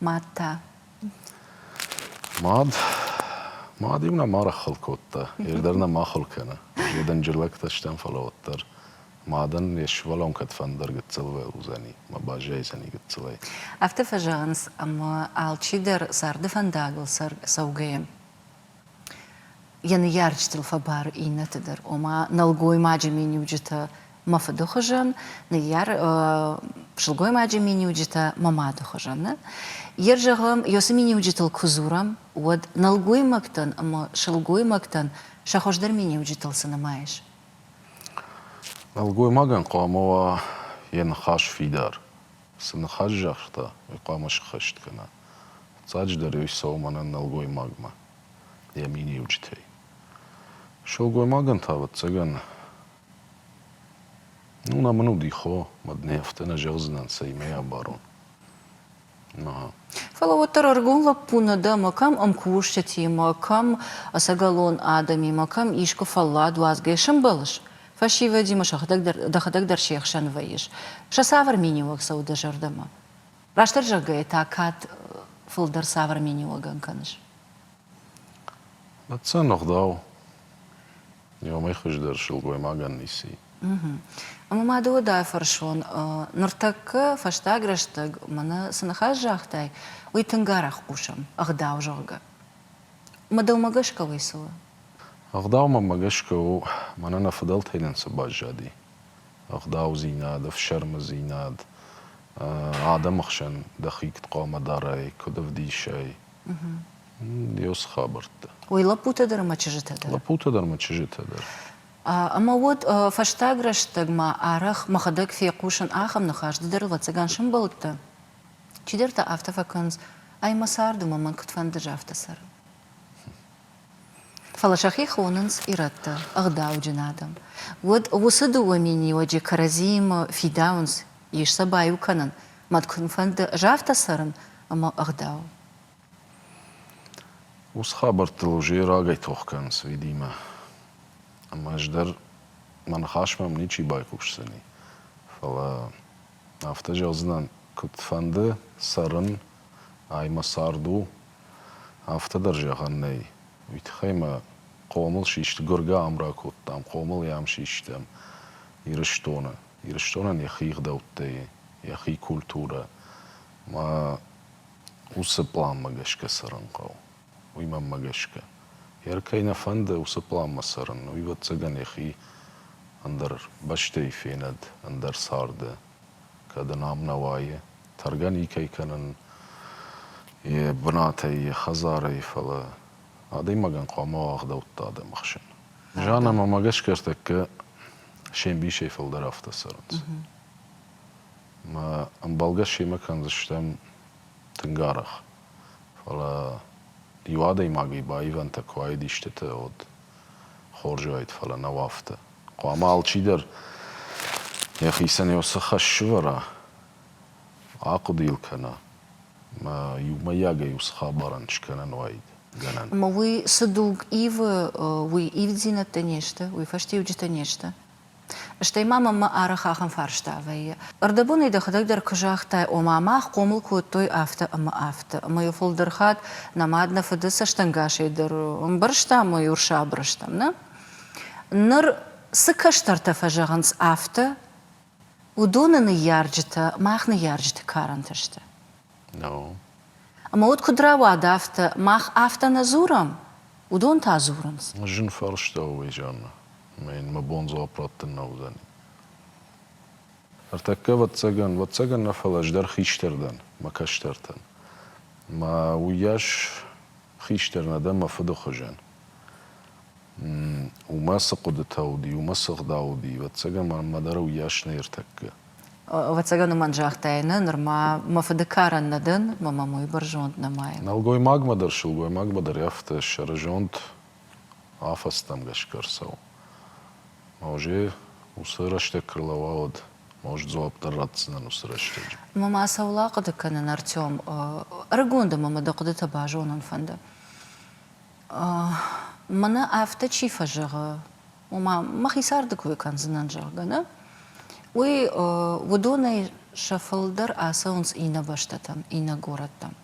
мад та? Мад? Мад-иу нӕм арахъхъыл кодта. Йе дӕр нӕм ахуыр кӕны. Йе дӕнджыр лӕгтӕ стӕм, фӕлӕ уӕддӕр мадӕн йе сывӕллон кӕдфӕндӕр гыццылвӕ уыдзӕни мӕ баззайдзӕни гыццылӕй. Афтӕ фӕзӕгъынц, ӕмӕ алчидӕр царды фӕндагыл цӕугӕйӕ йӕ ныййарджытыл фӕбары иннӕты дӕр, ома нӕлгоймаджы миниуджытӕ мӕ фыды хуызӕн, ныййар сылгоймаджы миниуджытӕ мӕ мады хуызӕн. Нӕ? Йер зӕгъӕм, ёсы миниуджытыл куы дзурӕм, уӕд нӕлгоймӕгтӕн ӕмӕ сылгоймӕгтӕн сӕ хуыздӕр миниуджытыл цы нымайыс? Нӕлгоймагӕн хъуамӕ уа йӕ ныхас фидар, Цы ныхас загъта, уый хъуамӕ сххӕст кӕна. Фыццаджыдӕр ӕй цӕуы мӕнӕн нӕлгоймагмӕ, йӕ миниуджытӕй. Сылгоймагӕн та, ӕвӕццӕгӕн, ну нӕ мын уыди хо, уӕд нӕ афтӕ нӕ зӕгъдзынӕн, цӕимӕ абарон. Ӕмӕ. Фӕлӕ уӕддӕр ӕргом лӕппу нӕ дӕ, мӕ кӕм ӕмкусджытимӕ, кӕм ӕцӕгӕлон адӕмимӕ, кӕм искуы фӕллад уадзгӕ сӕмбӕлыс, Фӕсивӕдимӕ дӕхӕдӕг дӕр се хсӕн вӕййыс. Сӕ цавӕр миниуӕг цӕуы дӕ зӕрдӕмӕ? Растдӕр зӕгъгӕйӕ та кӕд фылдӕр цавӕр миниуӕгӕн кӕныс? Ӕцӕн ӕгъдау. Иомӕй хуыздӕр сылгоймагӕн ници. Ӕмӕ ма дӕу дӕ фӕрсон, ныртӕккӕ, фӕстаг рӕстӕг мӕнӕ цы ныхас загътай, уый тынг арӕх хъусӕм, ӕгъдау, зӕгъгӕ. Мыдылмӕ гӕсгӕ уый цы у? Ӕгъдаумӕ гӕсгӕ у, мӕнӕ нӕ фыдӕлтӕй нын цы баззади. Ӕгъдаудзинад, ӕфсӕрмыдзинад, адӕмы хсӕн дӕхи куыд хъуамӕ дарай, куыд ӕвдисай. Йӕ уыцы хабӕрттӕ. Уый лӕппутӕ дӕр ӕмӕ чызджытӕ дӕр? Лӕппутӕ дӕр ӕмӕ чызджытӕ дӕр. Ӕмӕ уӕд фӕстаг рӕстӕгмӕ арӕх мӕхӕдӕг фехъусын ахӕм ныхас, ды дӕр, ӕвӕццӕгӕн, сӕмбӕлыдтӕ? Чидӕртӕ афтӕ фӕкӕнынц, ӕй мӕ царды мӕмӕн куыдфӕнды афтӕ цӕрын. Фӕлӕ сӕхи хонынц ирӕттӕ, ӕгъдауджын адӕм. Уӕд уыцы дыууӕ миниуӕджы кӕрӕдзиимӕ фидауынц, ис сӕ баиу кӕнын, мӕд куынфӕнды афтӕ цӕрын, ӕмӕ ӕгъдау. Уыцы хабӕрттыл уже рагӕй тох кӕнынц Ведимӕ. Ӕмӕ ӕз дӕр мӕ ныхасмӕ мын ничи байхъусдзӕни. Фӕлӕ Афтӕ зӕгъдзынӕн, куыд фӕнды, цӕрын ӕй, мӕ цард у, афтӕ дӕр зӕгъӕн нӕй. Уый тыххӕй мӕ хъомыл систы, гуыргӕ ам ракодтам, хъомыл йӕм систӕм Ирыстоны. Ирыстонӕн йӕхи ӕгъдӕуттӕй, йӕхи культурӕ. Мӕ уыцы планмӕ гӕсгӕ цӕрын хъӕуы. уый мӕнмӕ гӕсгӕ. Йӕ ӕр кӕй нӕ фӕнды уыцы пъланмӕ цӕрын, уыйбӕццӕгӕн йӕхи ӕндӕр бӕстӕйы фенӕд, ӕндӕр царды, кӕд ын ам нӕ уайы, тӕргӕ никӕй кӕнын йӕ бынатӕй, йӕ хӕдзарӕй, фӕлӕ адӕймагӕн хъуамӕ уа ӕгъдӕутты адӕм ӕхсӕн. Зӕгъӕн ӕмӕ ма гӕсгӕ ӕртӕккӕ се мбисӕй фылдӕр афтӕ цӕрынц. Мӕ ӕмбӕлгӕ семӕ кӕндзыстӕм тынг арӕх, Фӕлӕ иу адӕймагӕй баивӕнтӕ куы уаид истытӕ, уӕд хорз уаид, фӕлӕ нӕу афтӕ. Хъуамӕ алчидӕр йӕхицӕн йӕ уыцы хӕс сывӕра, ахъуыды-иу кӕна, мӕ иумӕйагӕй уыцы хабарӕн скӕнӕн уаид гӕнӕн. Ӕмӕ уый цы дуг ивы, уый ивддзинӕдтӕ не сты, уый фӕстиуджытӕ не сты. Стӕй ма мӕм мӕ арых ахӕм фарста вӕййы, Ӕрдӕбонӕй дӕхӕдӕг дӕр куы загътай, ома мах хъомыл кодтой афтӕ ӕмӕ афтӕ, ӕмӕ иу фылдӕр хатт нӕ мад нӕ фыды цӕстӕнгасӕй дӕр ӕмбӕрстам ӕмӕ иу сабыр стӕм, нӕ? Ныр цы кӕстӕртӕ фӕзӕгъынц афтӕ, уыдоны ныййарджытӕ мах ныййарджыты карӕнты сты. Ӕмӕ уд куыд рауад афтӕ, мах афтӕ нӕ дзурӕм? Уыдон та дзурынц. Зын фарста у Изӕрмӕ, ӕмӕ йын мӕ бон дзуапп раттын нӕ уыдзӕни. Ӕртӕккӕ, ӕвӕццӕгӕн, ӕвӕццӕгӕн нӕ, фӕлӕ ӕз дӕр хистӕр дӕн мӕ кӕстӕртӕн. Мӕ уыйас хистӕр нӕ дӕн мӕ фыды хуызӕн. Уымӕ цы хъуыдытӕ уыди, уымӕ цы гъда уыди, ӕвӕццӕгӕн мӕнмӕ дӕр уыйас нӕ ӕртӕккӕ. Ӕвӕццӕгӕн уымӕн загътай нӕ, нырма мӕ фыды карӕн нӕ дӕн, мӕ мӕм уый бӕрзонд нӕмайы. Нӕлгоймагмӕ дӕр сылгоймагмӕ дӕр афтӕ ссӕрызонд афӕдзтӕм гӕсгӕ ӕрцӕуы. Маузе уыцы рӕстӕг куы рлӕууӕуыд, маузе дзуапп дӕр ратдзынӕн уыцы рӕстӕджы. Ма мӕ цӕуыл ахъуыды кӕнын, Артем? Ӕрыгон дӕ, мӕ мыды хъуыдытӕ базонын фӕнды. Мӕнӕ афтӕ чи фӕзӕгъы, ома мӕхи царды кой кӕндзынӕн, зӕгъгӕ, нӕ? Уый уыдонӕй сӕ фылдӕр ацӕуынц иннӕ бӕстӕтӕм, иннӕ горӕттӕм.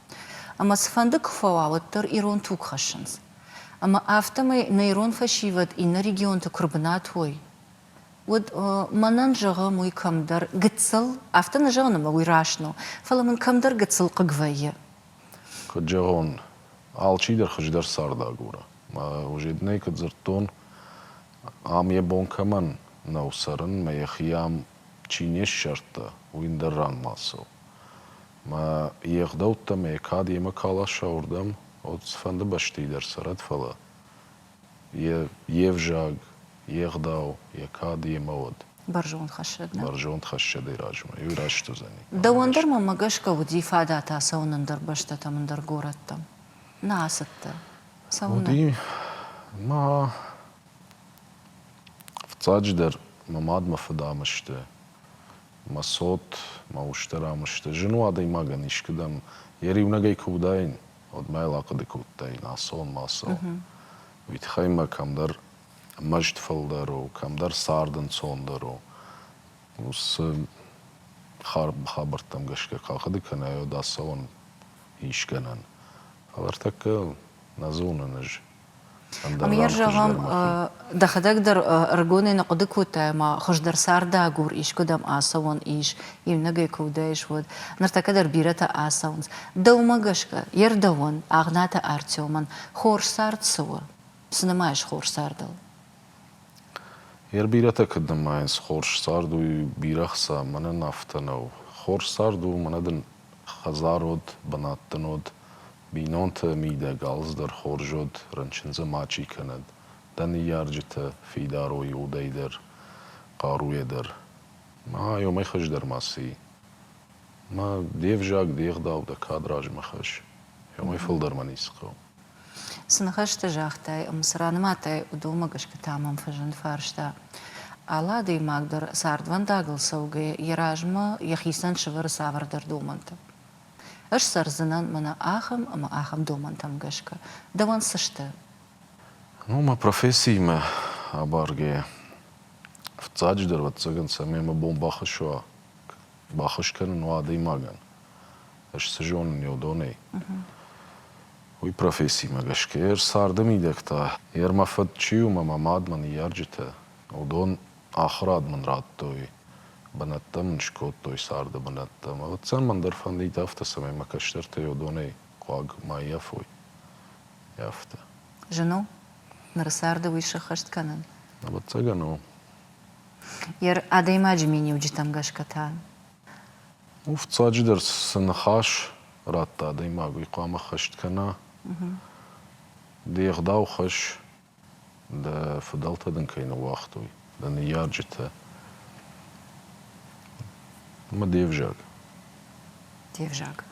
Ӕмӕ цыфӕнды куы фӕуа, уӕддӕр ирон туг хӕссынц. Ӕмӕ афтӕмӕй нӕ ирон фӕсивӕд иннӕ регионты куы рбынат уой, уӕд, мӕнӕн зӕгъӕм, уый кӕмдӕр гыццыл, афтӕ нӕ зӕгъын ӕмӕ уый раст нӕу, фӕлӕ мын кӕмдӕр гыццыл хъыг вӕййы. Куыд зӕгъон, алчидӕр хуыздӕр цард агуры. Ожеднӕй куыд дзырдтон, ам йӕ бон кӕмӕн нӕу цӕрын мӕ йӕхи ам чи не ссардта, уый ндӕр ран ма цӕуы. Мӕ йе гъдӕуттӕ мӕ кад йемӕ кӕ ласа уырдӕм, уӕд цыфӕнды бӕстӕйы дӕр цӕрӕд, фӕлӕ йӕ йе взаг, йе гъдау, йӕ кад йемӕ уӕд. Бӕрзонд хӕссӕг нӕ? Бӕрзонд хӕссӕдӕй размӕ иу раст уыдзӕни. Дӕуӕн дӕр мӕмӕ гӕсгӕ уыди фадат ацӕуын ӕндӕр бӕстӕтӕм, ӕндӕр горӕттӕм. Нӕ ацыдтӕ? Уыди ма фыццаджыдӕр мӕ мад, мӕ фыдӕмы сты, мӕ цот, мӕ устӕрӕмы сты. Зын у адӕймагӕн искуыдӕм йӕ риунӕгӕй куы уыдаин, уӕд ма йыл ахъуыды кодтаин, ацон, ма ацӕуон. Уый тыххӕй мӕ кӕмдӕр мӕст фылдӕр у, кӕмдӕр цард ӕнцондӕр у. Уыцы хабӕрттӕм гӕсгӕ куы ахъуыды кӕнай, уӕд ацӕуӕн искӕнӕн. Фӕлӕ ӕртӕккӕ нӕ зонын ӕз. Ӕмӕ зӕгъӕм, дӕхӕдӕг дӕр ӕрыгонӕй нӕ хъуыды кодтай, ӕмӕ хуыздӕр цардагур искуыдӕм ацӕуӕн ис, иунӕгӕй куы уыдаис, уӕд. Ныртӕккӕ дӕр бирӕтӕ ацӕуынц. Дӕумӕ гӕсгӕ, йе рдӕуӕн, Агънаты Артемӕн, хорз цард цы у? Цы нымайыс хорз цардыл? Йе рбирӕтӕ кӕд нымайынц хорз цард, уый бирӕ хца мӕнӕн афтӕ нӕу. Хорз цард у, мӕнӕ дын хӕдзар уыд, бынат дын уыд, бинонты мидӕг алцыдӕр хорз уыд, рынчын дзы мачи кӕнӕд, дӕ ныййарджыты фидарой удӕй дӕр, хъаруйӕ дӕр. Ма уымӕй хуыздӕр ма цы и? Мӕ де взаг, де гъдау дӕ кад размӕ хӕсс, уымӕй фылдӕр мӕ ницы хъӕуы. Цы ныхӕстӕ загътай ӕмӕ цы раныматай, уыдонмӕ гӕсгӕ та мӕм фӕзынд фарста. Алы адӕймаг дӕр, цардвӕндагыл цӕугӕйӕ, йӕ размӕ йӕхицӕн сӕвӕры цавӕрдӕр домӕнтӕ. Ӕз цӕрдзынӕн мӕнӕ ахӕм ӕмӕ ахӕм домӕнтӕм гӕсгӕ. Дӕуӕн цы сты? Ну, мӕ профессиимӕ абаргӕйӕ, фыццаджыдӕр, ӕвӕццӕгӕн, цӕмӕй мӕ бон бахӕссой, баххуыс кӕнын уа адӕймагӕн, Ӕз цы зонын уыдонӕй, уый профессимӕ гӕсгӕ. Йе рцарды мидӕгтӕ, йе рмӕ фыд чи у мӕ мӕ мадмӕ ныййарджытӕ, уыдон ахуырад мын радтой, бынӕттӕ мын скодтой царды бынӕттӕм. Ӕвӕццӕн мӕн дӕр фӕндид афтӕ, цӕмӕй мӕ кӕстӕртӕй уыдонӕй хъуаг ма ййафой. Ййафта. Зын у ныры царды уый сыххӕст кӕнын? Ӕвӕццӕгӕн у. Йе адӕймаджы миниуджытӕм гӕсгӕ та Фыццаджыдӕр цы ныхас радта адӕймаг, уый хъуамӕ хӕст кӕна. Де гъдау хӕсс, дӕ фыдӕлтӕ дын кӕй ныууагътой, дӕ ныййарджытӕ. Ӕмӕ де взаг. Де взаг.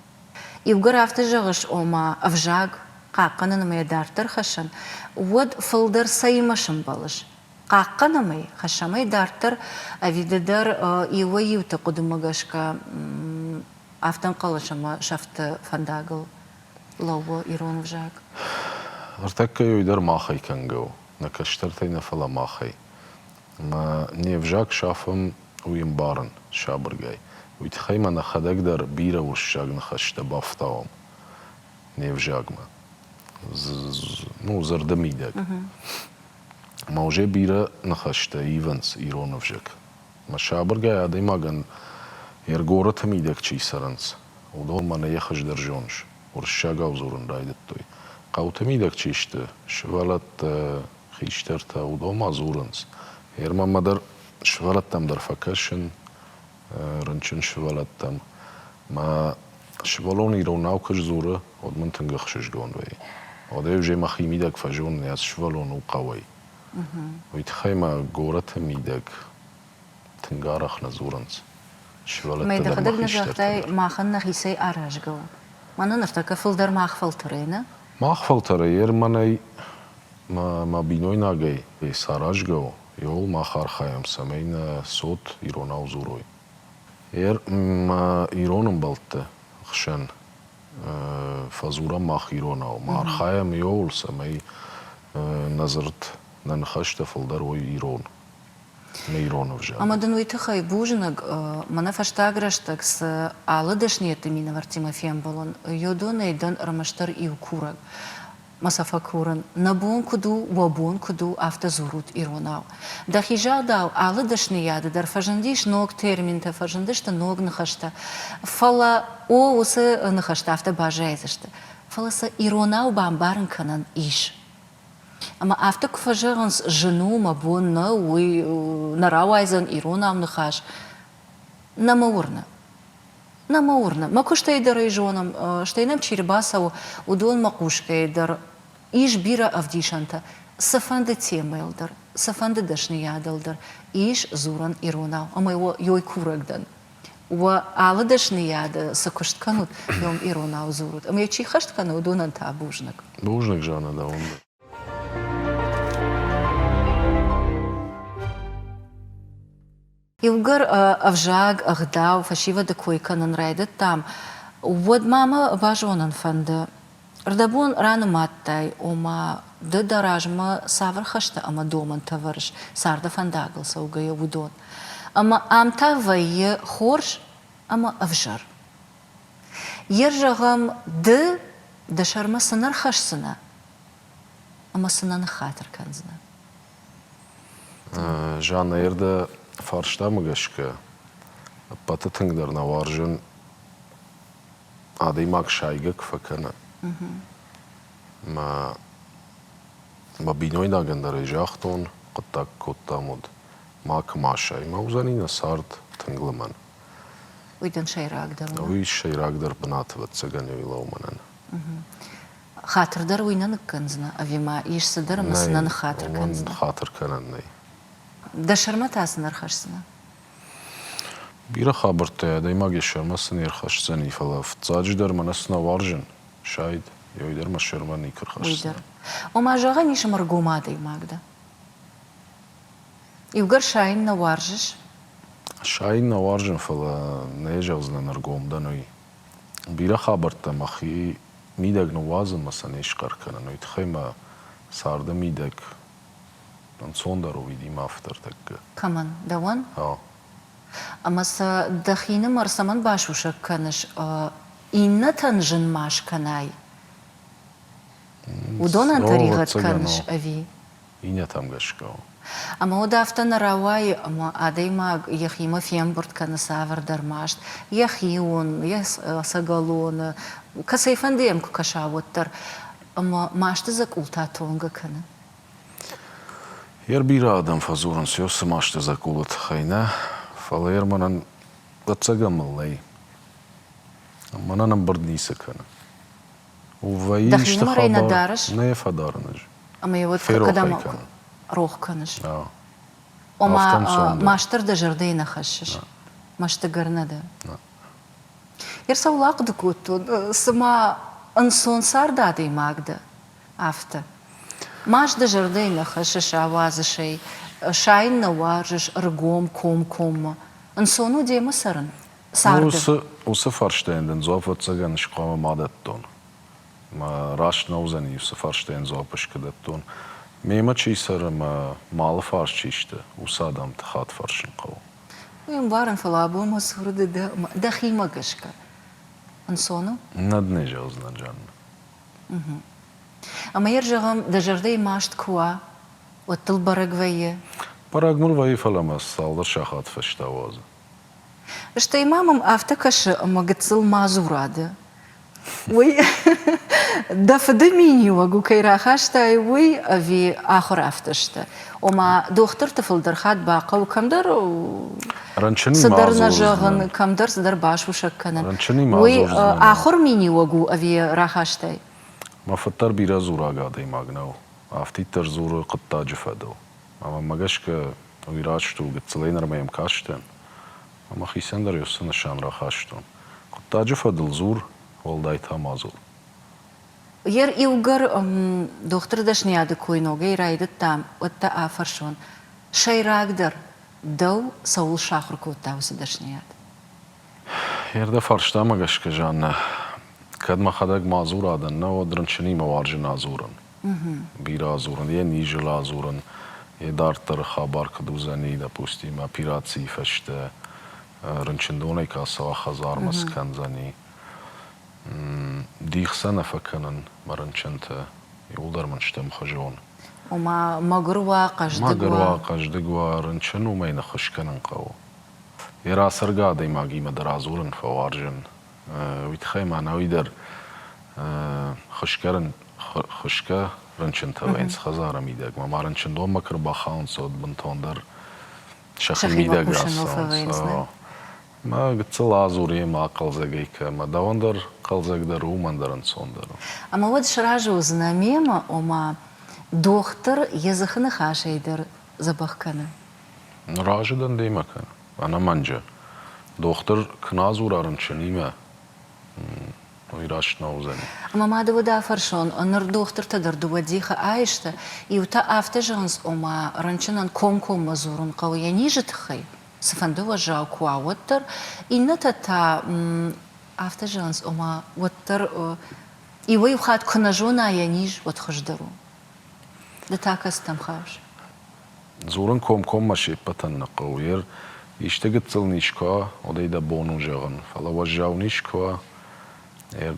Иугӕр афтӕ зӕгъыс, ома ӕвзаг хъахъхъӕнын ӕмӕ йӕ дарддӕр хӕссын, уӕд фылдӕр цӕимӕ сӕмбӕлыс? Хъахъхъӕнӕм ӕй, хӕссӕм ӕй дарддӕр ӕви ды дӕр иуӕй-иуты хъуыдымӕ гӕсгӕ афтӕнхъӕлӕс ӕмӕ сӕфты фӕндагыл лӕууы ирон ӕвзаг? Ӕртӕккӕ уый дӕр махӕй кӕнгӕ у, нӕ кӕстӕртӕй нӕ фӕлӕ махӕй. Ӕмӕ не взаг сафӕм уый ӕмбарын сабыргай. Уый тыххӕй ма нӕхӕдӕг дӕр бирӕ уырыссаг ныхӕстӕ бафтауӕм не взагмӕ. Ну, зӕрдӕмидӕг. Ма узе бирӕ ныхӕстӕ ивынц ирон ӕвзаг. Мӕ сабыргай адӕймагӕн йе ргорыты мидӕг чи цӕрынц, уыдон мӕнӕ йӕ хуыздӕр зоныс, уырыссагау дзурын райдыдтой. Хъӕуты мидӕг чи сты, сывӕлӕттӕ, хистӕртӕ, уыдон ма дзурынц. Гъер мӕмӕ дӕр, сывӕлӕттӕм дӕр фӕкӕсын, рынчын сывӕллӕттӕм. Мӕ сывӕллон иронау куы сдзуры, уӕд мын тынг ӕхсызгон вӕййы. Уӕдӕ ӕвзӕр мӕхимидӕг фӕзонын, ацы сывӕллон у хъӕуӕй. Уый тыххӕй мӕ горӕты мидӕг тынг арӕх нӕ дзурынц сывӕллӕттӕ дӕр мӕ хистӕртӕ дӕр. Махӕн нӕхицӕй аразгӕ у. Мӕнӕ ныртӕккӕ фылдӕр мах фӕлтӕрӕй нӕ? Мах фӕлтӕрӕй, Ерманӕй, мӕ бинойнагӕй саразгӕ у, Иууыл мах архайӕм, цӕмӕй нӕ цот иронау дзурой. Ӕр ма ирон ӕмбӕлтты хсӕн фӕдзурӕм мах иронау, ма архайӕм иууыл, цӕмӕй нӕ дзырд, нӕ ныхӕстӕ фылдӕр уой ирон, нӕ ирон ӕвзаг. Ӕмӕ дын уый тыххӕй бузныг, мӕнӕ фӕстаг рӕстӕг цы алы дӕсныйӕдты минӕвӕрттимӕ фембӕлын, йодонӕй дӕн ӕрмӕстдӕр иу курӕг. Ма сӕ фӕкурын, нӕ бон куыд у, уӕ бон куыд у, афтӕ дзурут иронау. Дӕхи загъдау, алы дӕсныйады дӕр фӕзындис ног терминтӕ, фӕзындысты ног ныхӕстӕ. Фӕлӕ, о, уыцы ныхӕстӕ афтӕ баззайдзысты. Фӕлӕ сӕ иронау бамбарын кӕнӕн ис. Ӕмӕ афтӕ куы фӕзӕгъынц, зын у, мӕ бон нӕу, уый нӕ рауайдзӕн иронау ныхас, Нӕ мӕ уырны. Нӕ мӕ уырны. Мӕ куыстӕй дӕр ӕй зонӕм, стӕй нӕм чи рбацӕуы, уыдонмӕ хъусгӕйӕ дӕр ис бирӕ ӕвдисӕнтӕ цыфӕнды темӕйыл дӕр, цыфӕнды дӕсныйадыл дӕр ис дзурӕн иронау ӕмӕ уӕ йой курӕг дӕн. Уӕ алы дӕсныйады цы куыст кӕнут, уым иронау дзурут ӕмӕ йӕ чи хӕст кӕны, уыдонӕн та бузныг. Бузныг, Жаннӕ, дӕуӕн дӕр. Иугӕр ӕвзаг, ӕгъдау, фӕсивӕды кой кӕнын райдыдтам, уӕд ма мӕ базонын фӕнды, ӕрдӕбон ранымадтай, ома ды дӕ размӕ цавӕр хӕстӕ ӕмӕ домӕнтӕ вӕрыс, царды фӕндагыл цӕугӕйӕ, уыдон? Ӕмӕ ам та вӕййы хорз ӕмӕ ӕвзӕр. Йе рзӕгъӕм, ды дӕ сӕрмӕ цы нӕ рхӕсдзынӕ ӕмӕ цы нӕ ныххатыр кӕндзынӕ? Жаннӕйы рды фарстамӕ гӕсгӕ ӕппӕты тынгдӕр нӕ уарзын адӕймаг сайгӕ куы фӕкӕна. Мӕ мӕ бинойнагӕн дӕр ӕй загътон, хъуыддаг кодтам уыд, макуы ма асаймӕ уыдзӕни нӕ цард тынг лымӕн. Уый дын сӕйрагдӕр у? Уый сӕйрагдӕр бынат, ӕвӕццӕгӕн, у лӕумӕнӕн. Хатыр дӕр уый нӕ ныккӕндзынӕ ӕви ма ис цыдӕр ӕмӕ цы нӕ ныххатыр кӕндзынӕ? Хатыр кӕнӕн нӕй. Дӕ сӕрмӕ та цы нӕ рхӕсдзынӕ? Бирӕ хабӕрттӕй адӕймаг йӕ сӕрмӕ цы не рхӕсдзӕни, фӕлӕ фыццаджыдӕр мӕнӕ цы нӕ уарзын, сайд, йӕ уый дӕр мӕ сӕрмӕ никуы рхӕсдзынӕ. Ома, зӕгъӕн ис ӕмӕргом адӕймаг дӕ. Иугӕр сайын нӕ уарзыс? Сайын нӕ уарзын, фӕлӕ нӕ зӕгъдзынӕн ӕргом дӕн, уый. Бирӕ хабӕрттӕ мӕхи мидӕг ныууадзынмӕ сӕ не схъӕр кӕнын, уый тыххӕй мӕ царды мидӕг ӕнцондӕр уыид имӕ афтӕ ӕртӕккӕ. Кӕмӕн, дӕуӕн? Ау. Ӕмӕ сӕ дӕхинымӕр цӕмӕн басусӕг кӕныс, иннӕтӕн зын ма скӕнай? Уыдонӕн тӕригъӕд кӕныс ӕви? иннӕтӕм гӕсгӕ у. Ӕмӕ уӕд афтӕ нӕ рауайы, ӕмӕ адӕймаг йӕхимӕ фембырд кӕны цавӕрдӕр маст, йӕхион, йӕ сӕгӕлоны, кӕцӕйфӕнды йӕм куы кӕса, уӕддӕр, ӕмӕ масты дзӕкъултӕ тонгӕ кӕны. Йе рбирӕ адӕм фӕдзурынц йӕ цы масты дзӕкъулы тыххӕй нӕ, фӕлӕ йӕ мӕнӕн ӕцӕгӕн мыл нӕй. Мӕнӕн ӕмбырд ницы кӕны. Вӕййы Дӕхи нымӕрӕй нӕ дарыс? Нӕ фӕдарын ӕз. Ӕмӕ йӕ уӕд кӕдӕм рох кӕныс? Ома, мастыр дӕ зӕрдӕйы нӕ хӕссыс? Мӕстыгӕр нӕ дӕ? Йе рцӕулагъды кодтон, цыма ӕнцон цард адӕймаг дӕ, афтӕ. Маст дӕ зӕрдӕйы нӕ хӕссыс, ауадзыс ӕй, сайын нӕ уарзыс ӕргом комкоммӕ. Ӕнцон у демӕ цӕрын? царды? Уыцы, уыцы фарстайӕн дын дзуапп ӕцӕгӕн схъуамӕ ма дӕттон. Раст нӕ уыдзӕни, уыцы фарстайӕн дзуапп ыскуы дӕттон. Мемӕ чи цӕры мӕ малы фарс чи сты, уыцы адӕмты хатт фӕрсын хъӕуы. Уый ӕмбарын, фӕлӕ абон мӕ цуры ды дӕхимӕ гӕсгӕ ӕнцон у? Нӕ дын ӕй зӕгъдзынӕн, Жаннӕ. Угу. Ӕмӕ йӕ рзӕгъӕм, дӕ зӕрдӕйы маст куы уа, уӕд дыл бӕрӕг вӕййы? Бӕрӕг мын вӕййы, фӕлӕ мӕ цалдӕр сахаты фӕстӕ уадзы. Стӕй ма мӕм афтӕ кӕсы, ӕмӕ гыццыл ма дзурады. Уый дӕ фыды миниуӕг у кӕй рахастай, уый ӕви ахуыр афтӕ сты? Ома, дохтырты фылдӕр хатт бахъӕуы кӕмдӕр цыдӕр нӕ зӕгъын, кӕмдӕр цыдӕр басусӕг кӕнын. Уый ахуыр миниуӕг у ӕви рахастай? Мӕ фыд дӕр бирӕ дзураг адӕймаг нӕу, афтиддӕр дзуры хъуыддаджы фӕдыл. Ӕмӕ мӕ гӕсгӕ Ирӕд стыр у, гыццылӕй нырмӕ йӕм кастӕн ӕмӕ хицӕн дӕр йӕ уыцы нысан рахастон. Хъуыддаджы фӕдыл дзур, уӕлдай та мадзал. Йе рдиугӕр дохтыры дӕсныйады кой ногӕй райдыдта, уӕд дӕ афӕрсон, сӕйрагдӕр, дӕу цӕуыл сахуыр кодта уыцы дӕсныйад? Йе рдӕ фарстамӕ гӕсгӕ, Жаннӕ, кӕд мӕхӕдӕг мадзура дӕн, науӕд рынчынимӕ уарзын адзурын, бирӕ адзурын, йе низыл адзурын, йе дарддӕры хабар куыд уыдзӕни, допустим, операцийы фӕстӕ рынчындонӕй кӕцау хӕдзармӕ скӕндзӕни. Дих сӕ нӕ фӕкӕнын мӕ рынчынты, ууылдӕр мын сты ӕмхуызон. Ома мӕгуыр уа, хъӕздыг уа? Мӕгуыр уа, хъӕздыг уа, рынчын уымӕй ныххуыс кӕнын хъӕуы. Йе рацӕргӕ адӕймагимӕ дӕр адзурын фӕуарзын. Уый тыххӕй мӕнӕуи дӕр хуысгӕ хуысгӕ рынчынтӕ вӕййынц хӕдзары мидӕг. Мӕ ма рынчындонмӕ куы ӕрбахауынц, уӕд бынтондӕр сӕхи мидӕг ӕссӕнц. Мӕ гыццыл адзур йемӕ хъӕлдзӕгӕй кӕмӕ. Дӕуӕн дӕр хъӕлдзӕгдӕр у, мӕн дӕр ӕнцондӕр у. Ӕмӕ уӕд сразы уыдзынӕ мемӕ, ома дохтыр йӕ дзыхы ныхасӕй дӕр дзӕбӕх кӕны. Ныр азы дӕн дӕ мӕ кӕн, ӕнӕмӕнджы. Дохтыр куы нӕ дзура рынчынимӕ, уый раст нӕ уыдзӕни. Ӕмӕ ма дӕуӕд афӕрсон, ныр дохтыртӕ дӕр дыууӕ дихы айсты, иутӕ афтӕ зӕгъынц, ома, рынчынӕн комкоммӕ дзурын хъӕуы йӕ низы тыххӕй, цыфӕнды уӕззау куы уа, уӕддӕр, иннӕтӕ та афтӕ зӕгъынц, ома, уӕддӕр иуӕй-иу хатт куы нӕ зона йӕ низ, уӕд хуыздӕр у. Ды та кӕцытӕм хъавыс? Дзурын комкоммӕ се ппӕтӕн нӕ хъӕуы, ер исты гыццыл низ куы уа, уӕдӕй дӕ бон у зӕгъын, фӕлӕ уӕззау низ куы уа, ер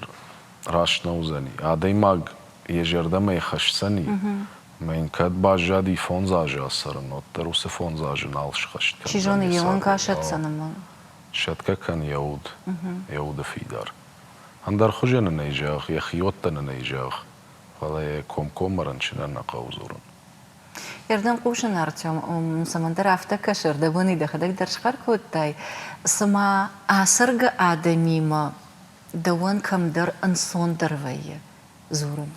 раст нӕ уыдзӕни. Адӕймаг йӕ зӕрдӕмӕ хӕсдзӕни, мӕ йын кӕд баззади фондз азы ацӕрын, уӕддӕр уыцы фондз азы нал схӕст кӕндзӕни. Чи зоны, йе уӕнг асӕтдзӕн ӕмӕ. Сӕтгӕ кӕн йӕ уд, йӕ уды фидар. Ӕндӕр хуызӕн ын ӕй зӕгъ, йӕ хиуӕттӕн ын ӕй зӕгъ, фӕлӕ йӕ комкоммӕ рынчынӕн нӕ хъӕуы дзурын. Ирдӕн хъусын, Артем, цӕмӕндӕр афтӕ кӕсы, ӕрдӕбонӕй дӕхӕдӕг дӕр схъӕр кодтай, цыма ацӕргӕ адӕмимӕ дӕуӕн кӕмдӕр ӕнцондӕр вӕййы дзурын.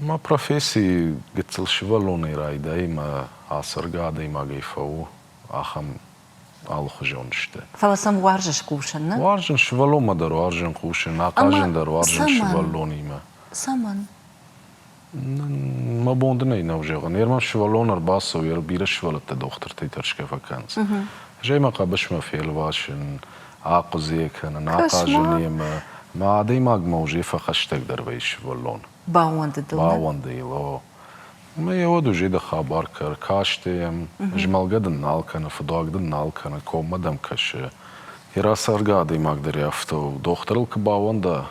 Мӕ професси гыццыл сывӕллонӕй райдайы мӕ ацӕргӕ адӕймагӕй фӕу ахӕм алыхуызон сты. Фӕлӕ сӕм уарзыс кусын, нӕ? Уарзын сывӕллонмӕ дӕр уарзын, хъусын, ахъазын дӕр уарзын сывӕллонимӕ. Цӕмӕн? Мӕ бон дын ӕй нӕу зӕгъын. Ерман сывӕллон ӕрбацӕуы, бирӕ сывӕллӕттӕ дохтыртӕй тӕрсгӕ фӕкӕнынц. Зӕй мӕ хъӕбысмӕ фелвасын, ахъуыдзӕ кӕнын, ахъазын йемӕ. Мӕ адӕймагмӕ узе фӕхӕстӕгдӕр вӕййы сывӕллон. Баууӕнды дыл? Баууӕнды йыл, о. Ӕмӕ йӕ уӕд узе дӕ хабар кӕр, касты йӕм, змӕлгӕ дын нал кӕны, фыдуаг дын нал кӕны, коммӕ дӕм кӕсы. Йӕ рацӕргӕ адӕймаг дӕр афтӕ у. Дохтырыл куы баууӕнда,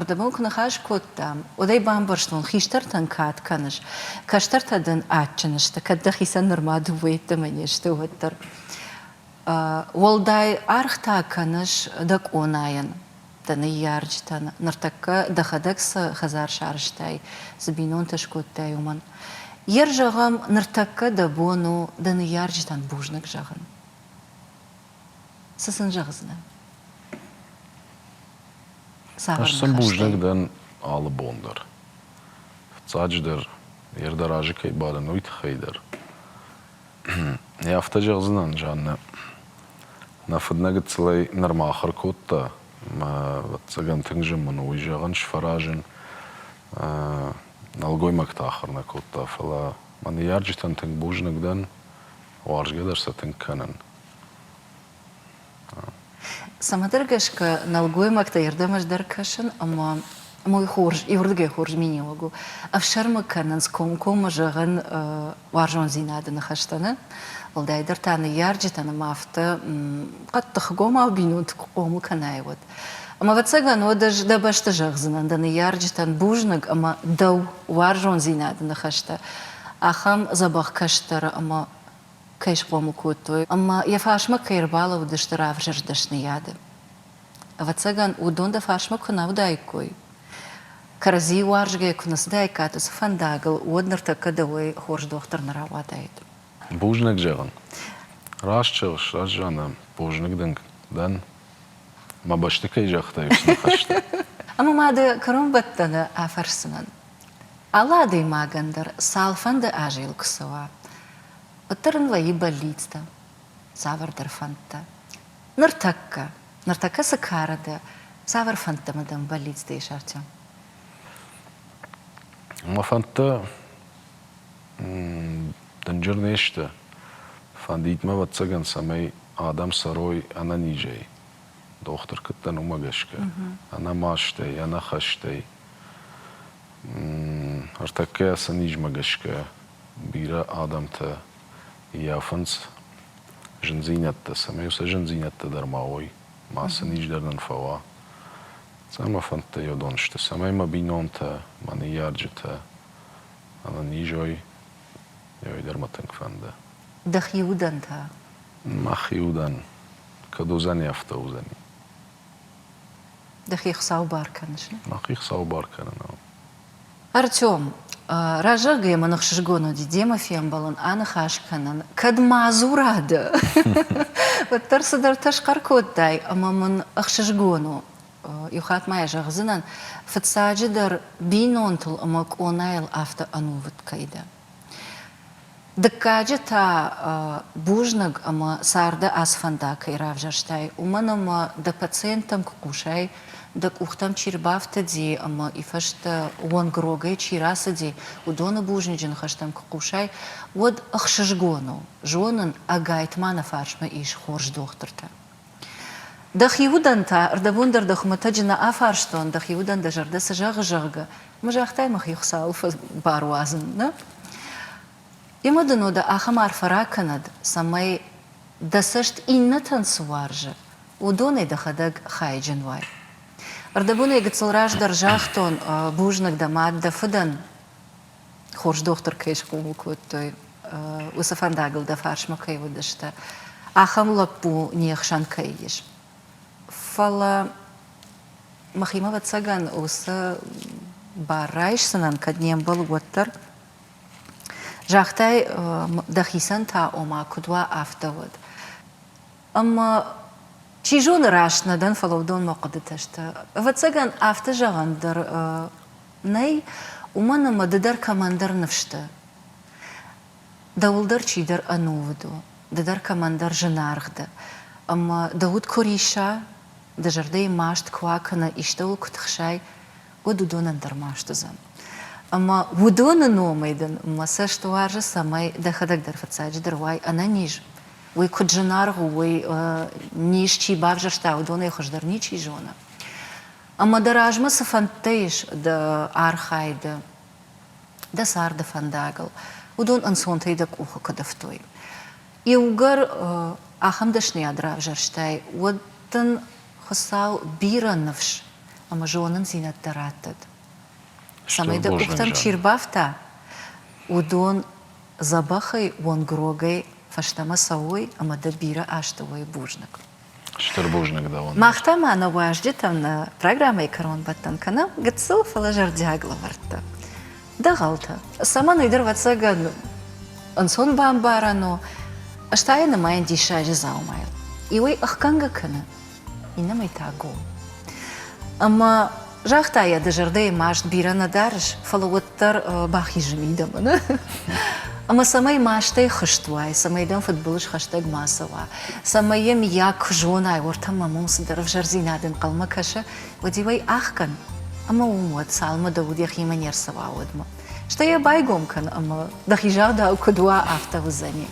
Рдӕбыл куы ныхас кодтам, уӕд ӕй бамбӕрстон, хистӕртӕн кад кӕныс, кӕстӕртӕ дын адджын сты, кӕд дӕхицӕн нырма дыууӕйӕддӕмӕ не сты, уӕддӕр. Уӕлдай аргъ та кӕныс дӕ къонайӕн, дӕ ныййарджытӕн, ныртӕккӕ дӕхӕдӕг цы хӕдзар сарызтай, цы бинонтӕ скодтай, уымӕн. Йер зӕгъӕм, ныртӕккӕ дӕ бон у дӕ ныййарджытӕн бузныг зӕгъын. Цы сын зӕгъдзынӕ? Ӕз сын бузныг дӕн алы бон дӕр. Фыццаджыдӕр, йе рдӕр азы кӕй бадын, уый тыххӕй дӕр. Йӕ афтӕ зӕгъдзынӕн, Жаннӕ, нӕ фыднӕ гыццылӕй нырма ахуыр кодта. Ӕвӕццӕгӕн тынг зын мын у уый зӕгъын, сфӕразын. Нӕлгоймӕгтӕ ахуыр нӕ кодта, фӕлӕ мӕ ныййарджытӕн тынг бузныг дӕн. Уарзгӕ дӕр сӕ тынг кӕнын. Цӕмӕдӕр гӕсгӕ нӕлгоймӕгтӕй ӕрдӕмӕздӕр кӕсын ӕмӕ мой хорз, иуырдыгӕй хорз миниуӕг у, ӕфсӕрмы кӕнынц комкоммӕ зӕгъын уарзондзинады ныхӕстӕ нӕ, уӕлдайдӕр та ныййарджытӕн ӕмӕ афтӕ хъӕддыхгомау бинонты куы хъомыл кӕнай, уӕд. Ӕмӕ ӕвӕццӕгӕн уӕд ӕз дӕ бӕсты зӕгъдзынӕн, дӕ ныййарджытӕн бузныг ӕмӕ дӕу уарзондзинады ныхӕстӕ, ахӕм дзӕбӕх кӕстӕры ӕмӕ кӕй схъомыл кодтой ӕмӕ йӕ фарсмӕ кӕй ӕрбалӕууыдысты равзӕрст дӕсныйады. Ӕвӕццӕгӕн, уыдон дӕ фарсмӕ куы нӕ уыдаиккой, кӕрӕдзийы уарзгӕ куы нӕ цыдаиккат уыцы фӕндагыл, уӕд ныртӕккӕ дӕуӕй хорз дохтыр нӕ рауадаид. Бузныг зӕгъын. Раст зӕгъыс, Раззана, бузныг дынг дӕн. Мӕ бӕсты кӕй загътай, уыцы ныхӕстӕ. Ӕмӕ ма дӕ кӕронбӕттӕны афӕрсдзынӕн, Алы адӕймагӕн дӕр цалфӕнды азӕл куы цӕуа, уӕддӕр ын вӕййы бӕллицтӕ, цавӕрдӕр фӕндтӕ. Ныртӕккӕ, ныртӕккӕ цы кары дӕ, цавӕр фӕндтӕ мӕ дӕм бӕллицтӕ ис, Артем? Мӕ фӕндтӕ дынджыр не сты. Фӕндид мӕ, ӕвӕццӕгӕн, цӕмӕй адӕм цӕрой ӕнӕнизӕй. Дохтыр куыд дӕн, уымӕ гӕсгӕ. Ӕнӕ мастӕй, ӕнӕ хӕстӕй Ӕртӕккӕ сӕ низмӕ гӕсгӕ бирӕ адӕмтӕ ййафынц зындзинӕдтӕ, цӕмӕй сӕ зындзинӕдтӕ дӕр ма уой, ма сын низ дӕр нын фӕуа. Цӕмӕ фӕндтӕ йӕ дон сты, цӕмӕй мӕ бинонтӕ, мӕ ныййарджытӕ ӕнӕнизой йой дӕр мӕ тынг фӕнды. Дӕхи удӕн та? Мӕхи удӕн? Кӕд уыдзӕни, афтӕ уыдзӕни. Дӕхи Хуыцау бар кӕныс? Мӕхи Хуыцау бар кӕнын. Артем, разӕггӕ мын ӕхсызгон уыди демӕ фембӕлын, аныхас кӕнын. Кӕд мадзура дӕ, уӕддӕр цыдӕртӕ схъӕр кодтай ӕмӕ мын ӕхсызгон у. Иу хатт ма йӕ зӕгъдзынӕн, фыццаджыдӕр, бинонтыл ӕмӕ къонайыл афтӕ ӕнувыд кӕй дӕ. Дыккаджы та бузныг ӕмӕ царды ацы фӕндаг кӕй равзӕрстай, уымӕн ӕмӕ дӕ пациенттӕм куы хъусай, дӕ къухтӕм чи рбафтыди ӕмӕ ифӕстӕ уӕнгрогӕй чи рацыди, уыдоны бузныджы ныхӕстӕм куы хъусай, уӕд ӕхсызгон у зонын, ӕгайтма нӕ фарсмӕ ис хорз дохтыртӕ. Дӕхи удӕн та рдӕбон дӕр дӕ хуымӕтӕджы нӕ афарстон, дӕхи удӕн дӕ зӕрдӕ цы зӕгъы, зӕгъгӕ, мы загътай мӕхи Хуыцауыл баруадзын, нӕ? Емӕ дын уӕдӕ ахӕм арфӕ ракӕнӕд, цӕмӕй, дӕ цӕст иннӕтӕн цы уарзы, уыдонӕй дӕхӕдӕг хайджын уай. Ӕрдӕбонӕй гыццыл раздӕр загътон, бузныг дӕ мад, дӕ фыдӕн, хорз дохтыр кӕй схъомыл кодтой, уыцы фӕндагыл дӕ фарсмӕ кӕй уыдысты, ахӕм лӕппу не хсӕн кӕй ис. Фӕлӕ мӕхимӕ, ӕвӕццӕгӕн, уыцы бар райсдзынӕн, кӕд не мбӕл, уӕддӕр. Загътай, дӕхицӕн та, ома, куыд уа, афтӕ уӕд. Ӕмӕ, чи зоны, раст нӕ дӕн, фӕлӕ уыдонмӕ хъуыдытӕ сты. Ӕвӕццӕгӕн, афтӕ зӕгъӕн дӕр Нӕй, уымӕн ӕмӕ ды дӕр кӕмӕндӕр ныфс дӕ. Дӕуыл дӕр чидӕр ӕнувыд у, ды дӕр кӕмӕндӕр зынаргъ дӕ. Ӕмӕ дӕ уд куы рисса, дӕ зӕрдӕйы маст куы акӕна, истӕуыл куы тыхсай, уӕд уыдонӕн дӕр маст уыдзӕн. Ӕмӕ уыдоны номӕй дын мӕ цӕст уарзы, цӕмӕй дӕхӕдӕг дӕр фыццаджыдӕр уай ӕнӕниз. Уый куыд зынаргъ у, уый низ чи бавзӕрста, уыдонӕй хуыздӕр ничи зоны. Ӕмӕ дӕ размӕ цы фӕндтӕ ис дӕ архайды, дӕ царды фӕндагыл, уыдон ӕнцонтӕй дӕ къухы куыд ӕфтой? Иугӕр ахӕм дӕсныйад равзӕрстай, уӕд дын Хуыцау бирӕ ныфс ӕмӕ зонындзинӕдтӕ раттӕд, цӕмӕй дӕ къухтӕм чи рбафта, уыдон дзӕбӕхӕй, уонгрогӕй фӕстӕмӕ цӕуой ӕмӕ дӕ бирӕ азты уой бузныг. Стыр бузныг дӕуӕн. Мах та ма нӕ уазджытӕн программӕйы кӕронбӕттӕн кӕнӕм гыццыл, фӕлӕ зӕрдиаг лӕвӕрттӕ. Дӕгъӕлтӕ, цӕмӕн ӕйдӕр ӕвӕццӕгӕн ӕнцон бамбарӕн у, ӕз та йӕ нымайын диссаджы дзаумайыл. Иуӕй ӕхгӕнгӕ кӕны, иннӕмӕй та гом. Ӕмӕ Загъта йӕ, ды зӕрдӕйы маст бирӕ нӕ дарыс, фӕлӕ уӕддӕр бахизы мидӕмӕ. Ӕмӕ цӕмӕй мастӕй хызт уай, цӕмӕй дӕм фыдбылыз хӕстӕг ма цӕуа, цӕмӕй йӕ мийаг куы зонай, уӕртӕ мӕм уым цыдӕр ӕвзӕрдзинад ӕнхъӕлмӕ кӕсы, уӕд-иу ӕй ӕхгӕн, ӕмӕ уым уӕд, цалынмӕ дӕ уд йӕхимӕ не рцӕуа, уӕдмӕ. стӕй йӕ байгом кӕн ӕмӕ, дӕхи загъдау куыд уа, афтӕ уыдзӕни.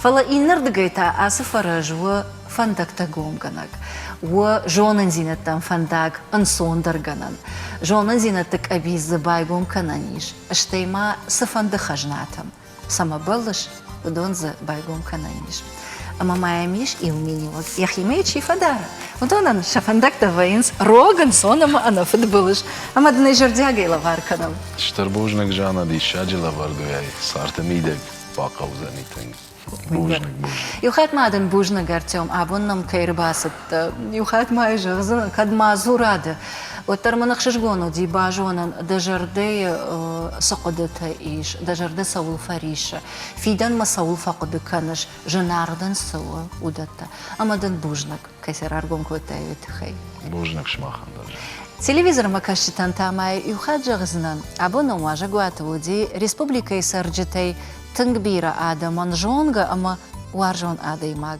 Фӕлӕ иннӕрдыгӕй та ацы фӕрӕз у фӕндӕгтӕ гомгӕнӕг, у зонындзинӕдтӕм фӕндаг ӕнцондӕргӕнӕн. Зонындзинӕдты къӕбиц дзы байгом кӕнӕн ис, стӕй ма цыфӕнды хӕзнатӕм. цӕмӕ бӕллыс, уыдон дзы байгом кӕнӕн ис. Ӕмӕ ма йӕм ис иу миниуӕг, йӕхимӕ чи фӕдара, уыдонӕн сӕ фӕндӕгтӕ вӕййынц рог, ӕнцон ӕмӕ ӕнӕфыд былыз. Ӕмӕ дын ӕй зӕрдиагӕй лӕвар кӕнӕм. Стыр бузныг, Жанна, диссаджы лӕвӕрдуӕй сӕрты мидӕг бахъӕудзӕни тынг. Бузныг, бузныг. Иу хатт ма дын бузныг, Артем, абон нӕм кӕй ӕрбацыд, Иу хатт мӕй зӕгъдзӕн, кӕд ма дзура ды, уӕддӕр мын ӕхсызгон уыди базонын, дӕ зӕрдӕйы цы хъуыдытӕ ис, дӕ зӕрдӕ цӕуыл фӕриссы, фидӕнмӕ цӕуыл фӕхъуыды кӕныс, зынаргъ дын цы у, уыдӕттӕ. Ӕмӕ дын бузныг, кӕй сӕ раргом кодтай, уый тыххӕй. Бузныг сымахӕн дӕр. Телевизормӕкӕсджытӕн та мӕ иу хатт зӕгъдзынӕн, абон ӕм уазӕгуаты уыди республикӕйы цӕрджытӕй тынг бирӕ адӕмон зонгӕ ӕмӕ уарзон адӕймаг.